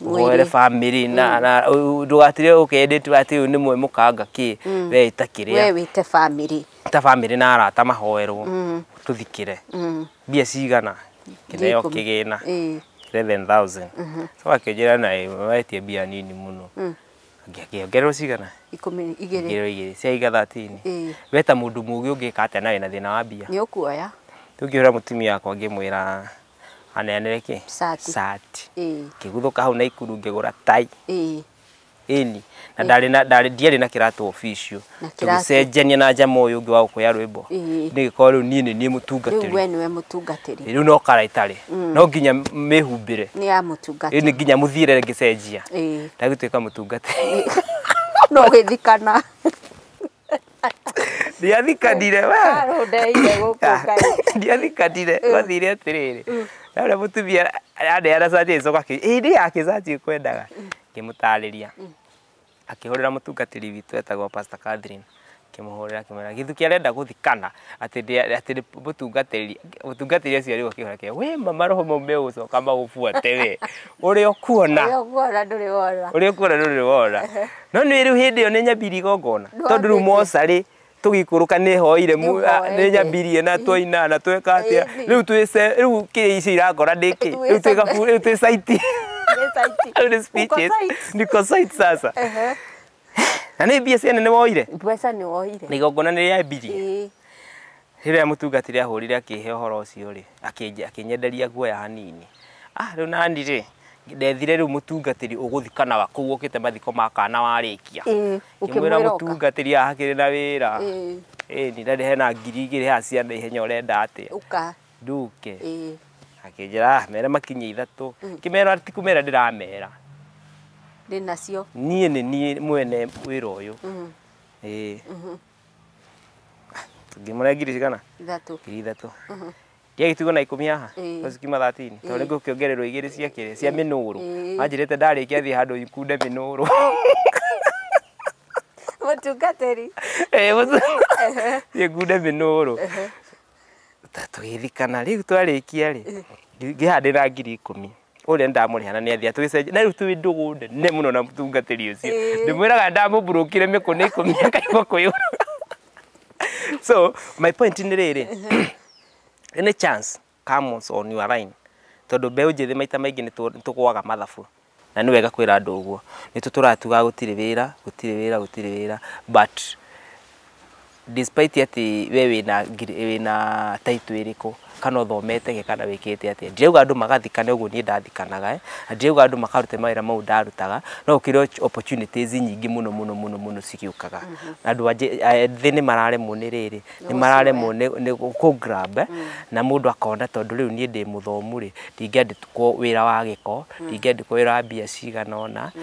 uhoere family na mm. na ndugatire ukendete ati uyu ni mwe mukanga ki mm. we itakire we wite family ta family na arata mahoerwo mm. tuthikire bia cigana kineo kigina 11000 mhm. so akijira na wetie bia nini muno ngĩongererwo cigana ikũmi igĩrĩ ngĩrwo igĩrĩ cia iga thatini weta mũndũ mũgĩ ũngĩka atĩa na wĩna thĩna wa mbia nĩ ũkuoya rĩu ngĩhũra mũtumia yakwa ngĩmwĩra aneanire kĩ Sati. sati Ĩĩ. ngĩguthũka hau naikuru ngĩgũra tai Ĩĩ. ĩni na ndarĩ na ndarĩ ndiarĩ na kĩratũ official Na kĩratũ. tũgĩcenjania na njama ũyũ ũngĩ wa gũkũya rwĩmbo Ĩĩ. nĩgĩkorwo rĩu niĩ nĩ niĩ rĩu mũtungatĩri we nĩwe mũtungatĩri rĩu no kara itarĩ no nginya mĩhumbĩre nĩ ya Ĩĩ, nĩ mũtungatĩri nginya mũthiĩre ngĩcenjia Ĩĩ. ndagĩtuĩka mũtungatĩri no gĩthikana ndiathikanire we Arũndeire gũkũ kaĩ. ndiathikanire gwathire atĩrĩrĩ na ũrĩa mũtumia andeana cati ĩcoka akĩ ĩndĩ yake cati ĩkwendaga ngĩmũtarĩria akĩhũrĩra mũtungatĩri witũ etagwo Pastor Catherine akĩmũhũrĩra akĩmwĩra gĩthuki arenda gũthikana atĩ ndĩ- atĩ nĩ mũtungatĩri mũtungatĩri ũcio rĩu akĩhora kĩo we ma maroho mau megũcoka magũbuate we ũrĩa ũkuona Ũrĩa ũkuona ndũrĩ wona. ũrĩa ũkuona ndũrĩ wona no nĩ rĩu hĩndĩ ĩyo nĩ nyambiri igongona Nĩ tondũ rĩu wambĩtie. mocarĩ tũgĩikũrũka nĩ hoire mu- Nĩ a- nĩ hoire. nyambirie na twaina na tweka atĩa Ĩni. rĩu twĩ ce- rĩu kĩrĩa icio irakora ndĩkĩ Twĩ rĩu twĩ ce- gabu- rĩu twĩ caiti Nĩ saiti. rĩu nĩ Uko speeches saiti. niko site sasa Ehe. na nĩ mbia ciene nĩ woire mbeca nĩ woire na igongona nĩ rĩa mbiri Ĩĩ. rĩrĩa mũtungatĩri ahũrire akĩhe ũhoro ũcio rĩ akĩnje- akĩnyenderia guoya hanini ah rĩu nani rĩ ndethire rĩu mũtungatĩri ũgũthikanaga kũu ũkĩte mathiko ma kana warĩkia Ĩĩ, ngĩmwĩra ũkĩmwĩra oka. mũtungatĩri haha hakĩrĩ na wĩra Ĩĩ. ĩni na hena ngiri igĩrĩ haha cia na ihenya ũrenda atĩa ũka nduke ĩĩ akĩnjĩra "Ah, mere makinya ithatũ kĩmera ti kũmera ndĩramera ndĩ nacio niĩ nĩ niĩ mwene wĩra ũyũ Mhm. ĩĩ ngĩmũrĩa ngiri cigana ithatũ ngiri ithatũ kĩa gĩtugo na ikũmi haha Ĩĩ. no cikiuma thatini tondũ nĩ ngũkĩongererwo igĩrĩ cia kĩrĩ cia mĩnũrũ Ĩĩ. manjĩrĩte ndarĩkia thiĩ handũ ikunde mĩnũrũ mũtungatĩri Eh, mũtu- thiĩ ngunde mĩnũrũ Ta tũgĩthikana rĩu twarĩkia rĩ Eh. ngĩha ndĩ na ngiri ikũmi ũrĩa ndamũrĩhana nĩ athiĩ tũgĩcenjia na rĩu twĩ ndũgũ nene mũno na mũtungatĩri ũcio Eh. ndĩmwĩraga ndamũburũkire mĩkũnĩ ikũmi akaigua kũyũra so my point nĩ rĩrĩ nĩ chance comes on your line tondũ mbeũ njĩthĩ maita maingĩ nĩ tũ- nĩ tũgwaga mathabu Na nĩ wega kwĩra andũ ũguo. Nĩ tũtũraga tugaga gũtirĩ wĩra, gũtirĩ wĩra, gũtirĩ wĩra but despite atĩ we wĩna wĩna title ĩrĩkũ, kana ũthomete kĩ, kana wĩkĩte atĩa. Ndirauga andũ magathikane ũguo niĩ ndathikanaga eh, na ndirauga andũ makarute mawĩra mau ndarutaga, no gũkĩrĩ opportunities nyingĩ mũno mũno mũno mũno cigĩũkaga. Na andũ ethĩ nĩ mararemwo nĩ rĩrĩ, nĩ mararemwo nĩ kũ grab eh, na mũndũ akona tondũ rĩu niĩ ndĩ mũthomu rĩ, ndingĩenda kwo wira wa giko mm. ndingendi kwo wira wa mbia cigana ona mm.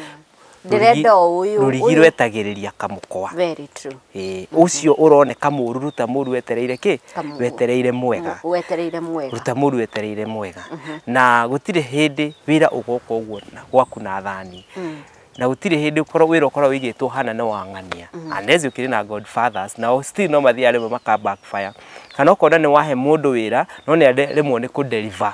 ndĩrenda ũyũ rũrigi rwetagĩrĩria kamũkwa very true eh ucio uroneka mũru ruta mũru wetereire ki wetereire mwega wetereire mwega ruta mũru wetereire mwega mhm. na gutire hindi wira ugoka uguo gwaku na thani mm. na gutire hindi ukorwo wira ukorwo wigitwo hana no wang'ania mm. anezi ukiri na god fathers na still no mathia rimwe maka backfire kana ukona ni wahe mundu wira no ni rimwe ni ku deliver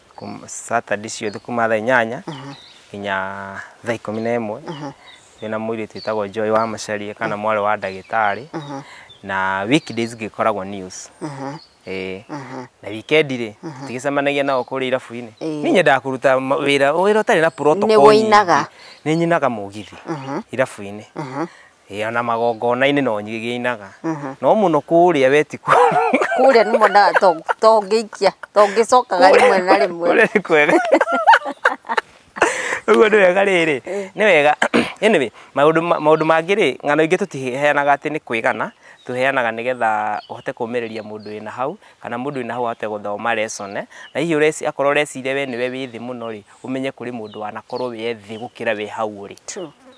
kum- saturday ciothe kuma thaa inyanya nginya thaa ikũmi na ĩmwe wĩna mũirĩtu wĩtagwo joy wa macaria kana mwarĩ wa ndagĩtarĩ na weekdays ngĩkoragwo news Eh, na wikendi rĩ tigĩcemanagia nao kũrĩa irabu-inĩ Ĩĩ. niĩ nyendaga kũruta ma- wĩra wĩra ũtarĩ na protocol Nĩ nyingĩ. ũinaga. nĩ nyinaga mũgithi irabu-inĩ Ĩ, ona magongona-inĩ no nyigĩinaga no mũno kũrĩa we ti kũrĩa kũrĩa nĩ monaga to- to ngĩikia to ngĩcokaga rĩmwe na rĩmwe kũrĩa nĩ kwega ũguo nĩ wega rĩrĩ nĩ wega anyway maũndũ ma- maũndũ mangĩ rĩ ng'ano ingĩ tũtiheanaga atĩ nĩ kwĩgana tũheanaga nĩgetha ũhote kũmĩrĩria mũndũ wĩna hau kana mũndũ wĩna hau ahote gũthoma lesson na hihi ũreci- akorwo ũreciria we nĩwe wĩ thĩ mũno rĩ ũmenye kũrĩ mũndũ wanakorwo wĩ thĩ gũkĩra we hau ũrĩ True.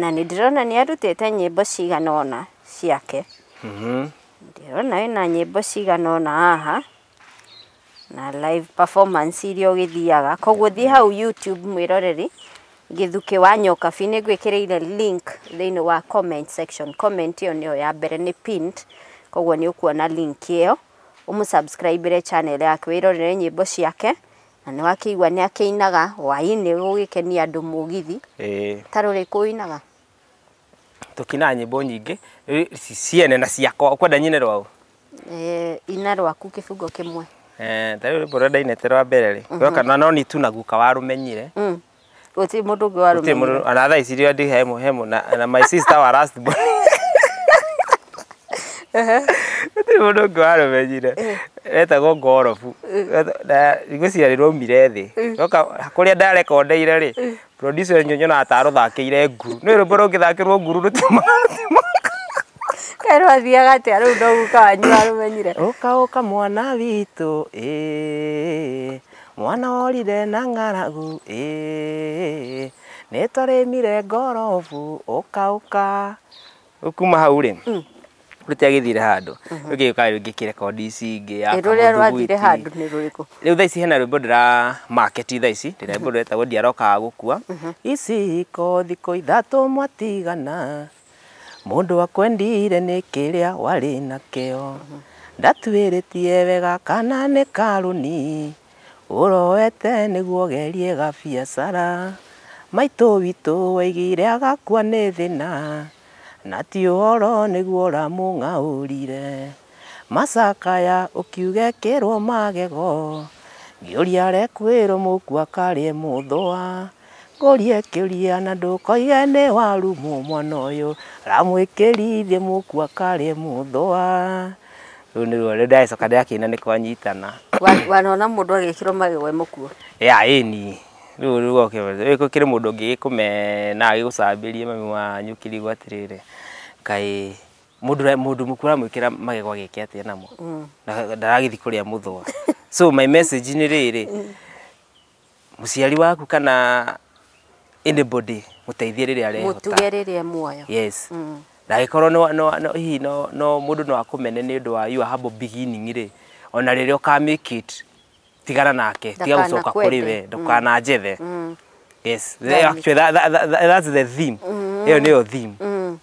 Na nĩ ndĩrona nĩ arutĩte nyĩmbo cigana ũna ciake. Ndĩrona ena nyĩmbo cigana ũna haha, na live performance iria ũgĩthiaga. Koguo thiĩ hau YouTube mwĩroreri, Gĩthukĩ wa Nyokabi. Nĩ ngwĩkĩrĩire link thĩinĩ wa comment section. Comment ĩyo nĩyo ya mbere, nĩ pinned, koguo nĩ ũkuona link ĩyo, ũmũ subscribe ĩre channel yake, wĩrorere nyĩmbo ciake, Na nĩ wakĩigua nĩ akĩinaga hwainĩ gũgĩkenia andũ mũgithi. Ĩĩ. Ta rũrĩ kũinaga. Tũkinaga nyĩmbo nyingĩ ciene na ciakwa. Ũkwenda nyine rwaũ? Ĩĩ ina rwaku kĩbungo kĩmwe. Ĩĩ ta rĩu rwĩmbo rũrĩa ndainĩte rwa mbere rĩ, rwa kana no niĩ tu na guka warũmenyire. gũtirĩ mũndũ ũngĩ warũmĩrĩire Gũtirĩ mũndũ ona thaa ici rĩo ndĩ hemo hemo na na my sister wa last born gũtirĩ mũndũ ũngĩ warũmenyire wetagwo ngorobu Weta- na ngwĩciria rĩ rwaumire thĩ oka kũrĩa ndarekondeire rĩ producer ũyũ nyonaga ta arũthakĩire nguru nĩ rwĩmbo rũngĩthakĩrwo nguru rũtiuma kaĩ rwathiaga atĩa rĩu ndoguka wanyu warũmenyire ũka ũka mwana witũ ĩĩ Mwana worire na ng'aragu ĩ, nĩtwarĩmire ngorobu ũka ũka. Rĩu kuma hau rĩ, rũtiagĩthire handũ. Rĩu gĩgĩũka rĩu ngĩkĩrekondi ici ingĩ ya Ĩ, rũrĩa rwathire kamũthugwiti. handũ nĩ rũrĩkũ Rĩu thaa ici hena rwĩmbo ndĩra market thaa ici, rwĩmbo rwĩtagwo ndiarokaga gũkua. Iciko thikũ ithatũ mwatigana, Mũndũ akwendire nĩ kĩrĩa warĩ nakĩo. Ndatuĩrĩtie wega kana nĩ karũni. Ũroete nĩguo ũgerie gabiacara. Maitũ witũ waigire agakua nĩ thĩna. Na ti ũhoro nĩguo ũramũng'aũrire. Macakaya ũkiuga ekĩrwo magego. Ngĩũria arekwĩrwo mũkua karĩe mũthũa. Ngũrie kĩũria na ndũkoige nĩ warumwo mwana ũyũ, ramwĩkĩri thiĩ mũkua karĩ mũthũa. Rũu nĩruo rĩu ndĩracoka ndĩrakĩina nĩ kwanyitana. Wa- wanona mũndũ agĩkĩrwo magego e mũkuũ Ya ĩni. Rĩu rĩu oke rĩu gũkĩrĩ mũndũ ũngĩ gĩkũmena gĩgũcambĩrie mami wanyu kĩrigo atĩrĩrĩ, kaĩ mũndũ ũrĩa mũndũ mũkuũ ũramwĩkĩra magego agĩke atĩa namo? Na ndaragĩthiĩ kũrĩa mũthũa. So my message nĩ rĩrĩ, Mũciari waku kana anybody mũteithie rĩrĩa arehota. Mũtuge rĩrĩa muoyo. Yes. Mm. Ndagĩkorwo no, no, no, hihi no, no mũndũ no akũmene nĩ ũndũ wa your humble beginning rĩ ona rĩrĩa ũka make it tigana nake tiga gũcoka kũrĩ we mm. ndũkana njethe mm. yes actually that, that, that, that's the theme mm. ĩyo nĩyo theme mm.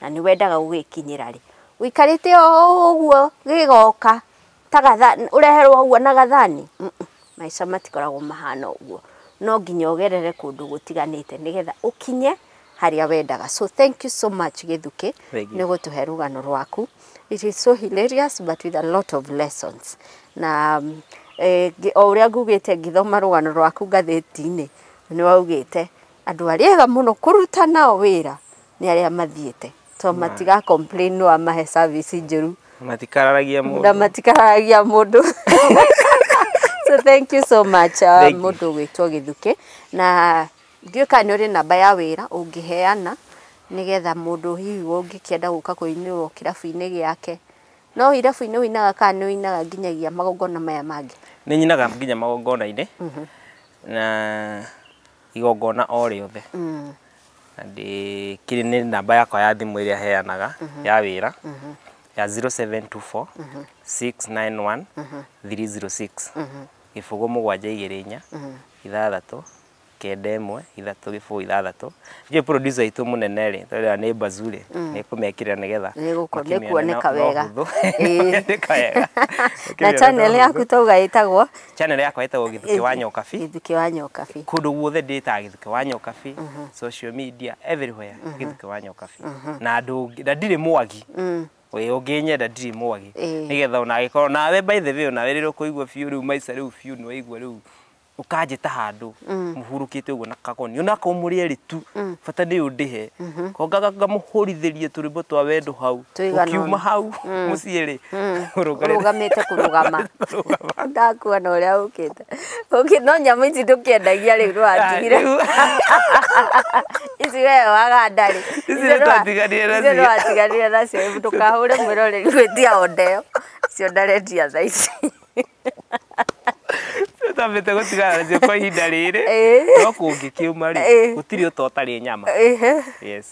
na nĩ wendaga gũgĩkinyĩra rĩ. Ũikarĩte o ũguo gĩgoka ta gathani, ũreherwo ũguo na gathani, maica matikoragwo mahana ũguo. No nginya ũgerere kũndũ gũtiganĩte nĩgetha ũkinye harĩa wendaga. So thank you so much Gĩthukĩ nĩ gũtũhe rũgano rwaku. It is so hilarious but with a lot of lessons. Na o ũrĩa ngugĩte ngĩthoma rũgano rwaku ngathĩti-inĩ, nĩ waugĩte andũ arĩega mũno kũruta nao wĩra. nĩ arĩa mathiĩte to matiga complain no amahe service njũru matikararagia mũndũ na matikararagia mũndũ so thank you so much uh, mũndũ gwĩtwo gĩthukĩ na ndiũĩ kana nĩ ũrĩ namba ya wĩra ũngĩheana nĩgetha mũndũ hihi ũngĩkĩenda gũka kũinĩrwo kĩrabu-inĩ gĩake no irabu-inĩ ũinaga kana nĩ ũinaga nginyagia magongona maya mangĩ nĩ nyinaga nginya magongona-inĩ mhm. na igongona o rĩothe mm. na ndĩkĩrĩ nĩ namba yakwa ya thimũ ĩrĩa heanaga mm -hmm. ya wĩra mm -hmm. ya 0724 mm -hmm. 691 mm -hmm. 306 mm -hmm. gĩbũgũ mũgwanja igĩrĩ inya mm -hmm. ithathatũ kenda ĩmwe ithatũ gĩbũgũ ithathatũ njũĩ producer aitũ mũnene rĩ tondũ nĩ bazuri mm. nĩ kũmekĩrĩra nĩ getha nĩkuoneka wega na channel yaku tauga ĩtagwo channel yakwa ĩtagwo gĩthukĩ wa nyokabi gĩthukĩ wa nyokabi kũndũ guothe ndĩtaga gĩthukĩ wa nyokabi social media everywhere gĩthukĩ wa nyokabi na andũ ũngĩ- na ndirĩ mwagi we ũngĩnyenda ndirĩ mwagi Ĩĩ. nĩgetha ona agĩkorwo nawe by the way onawe rĩrĩa ũkũigua biũ rĩu maica rĩu biũ nĩ waigua rĩu ũkanjĩta handũ mũhurũkĩte ũguo na kagoni onakorwo mũrĩ erĩ tu bata nĩ ũndĩhe kongaga ngamũhũrithĩrie tũrĩmbo twa wendo hau Tũigana ũna. Ũkiuma hau mũciĩ rĩ, ũrũgarĩre. ũrũgamĩte kũrũgama Rũgama. ndakuona ũrĩa ũkĩte Ũkĩ- no nyamũ ici ndũkĩendagia rĩu rwatigire Ah, rĩu- ici we waganda rĩ Ici nĩ twatiganire nacio. twatiganire nacio ndũkahũre mwĩroreri gwĩtia ondeyo ciondarendia tha ici tambĩte gũtigana nacio kwa ihinda rĩrĩ no kũngĩkiuma rĩ gũtirĩ ũta ũtarĩ nyama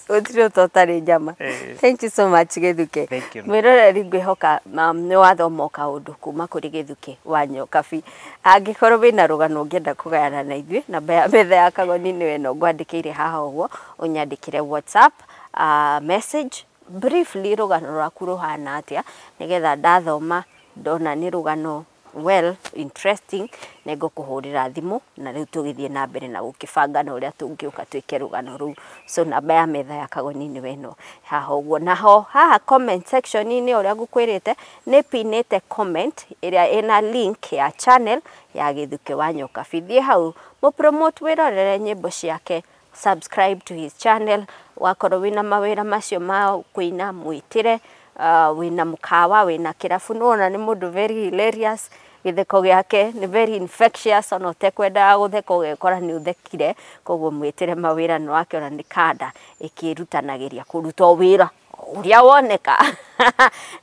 gũtirĩ ũta ũtarĩ nyama thank you so much gĩthuke mwĩroreri ngwĩhoka um, nĩ wathoma o kaũndũ kuma kũrĩ gĩthuke wa nyokabi angĩkorwo wĩna rũgano ũngĩenda kũgayana na ithuĩ namba ya metha ya kagoni nĩ wena ngwandĩkĩire haha ũguo ũnyandĩkĩre whatsapp uh, message briefly rũgano rwaku rũhana atĩa nĩgetha ndathoma Ndona nĩ rũgano well interesting, nĩ ngũkũhũrĩra thimũ na rĩu tũgĩthiĩ na mbere na gũkĩbanga na ũrĩa tũngĩũka twĩke rũgano rũu. So namba ya metha ya Kagoni nĩyo ĩno haha ũguo. Na ho haha comment section -inĩ o ũrĩa ngũkwĩrĩte, nĩ pin ĩte comment ĩrĩa ĩna link ya channel ya Gĩthukĩ wa Nyokabi. Thiĩ hau mũ promote wĩrorere nyĩmbo ciake. subscribe to his channel wakorwo wĩna mawĩra macio ma kũina mwĩtĩre uh, wĩna mũkawa wĩna kĩrabu nĩwona nĩ mũndũ very hilarious gĩtheko gĩake nĩ very infectious ona ũtekwendaga gũtheka ũgekora nĩ ũthekire koguo mwĩtĩre mawĩra nĩ wake ona nĩ kanda ĩkĩrutanagĩria kũruta o wĩra ũrĩa woneka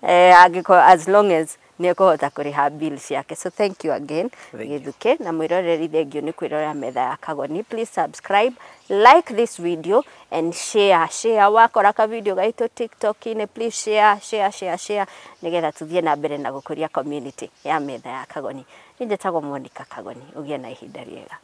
eh, angĩkorwo as long as nĩ ekũhota kũrĩha bill ciake. So thank you again Gĩthukĩ na mwĩroreri thengiũ nĩ kwĩrorera metha ya Kagoni. Please subscribe, like this video and share share. Wakora ka video gaitũ TikTok-inĩ please share share share share nĩgetha tũthiĩ na mbere na gũkũria community ya metha ya Kagoni. Niĩ njĩtagwo Monica Kagoni. Ũgĩe na ihinda rĩega.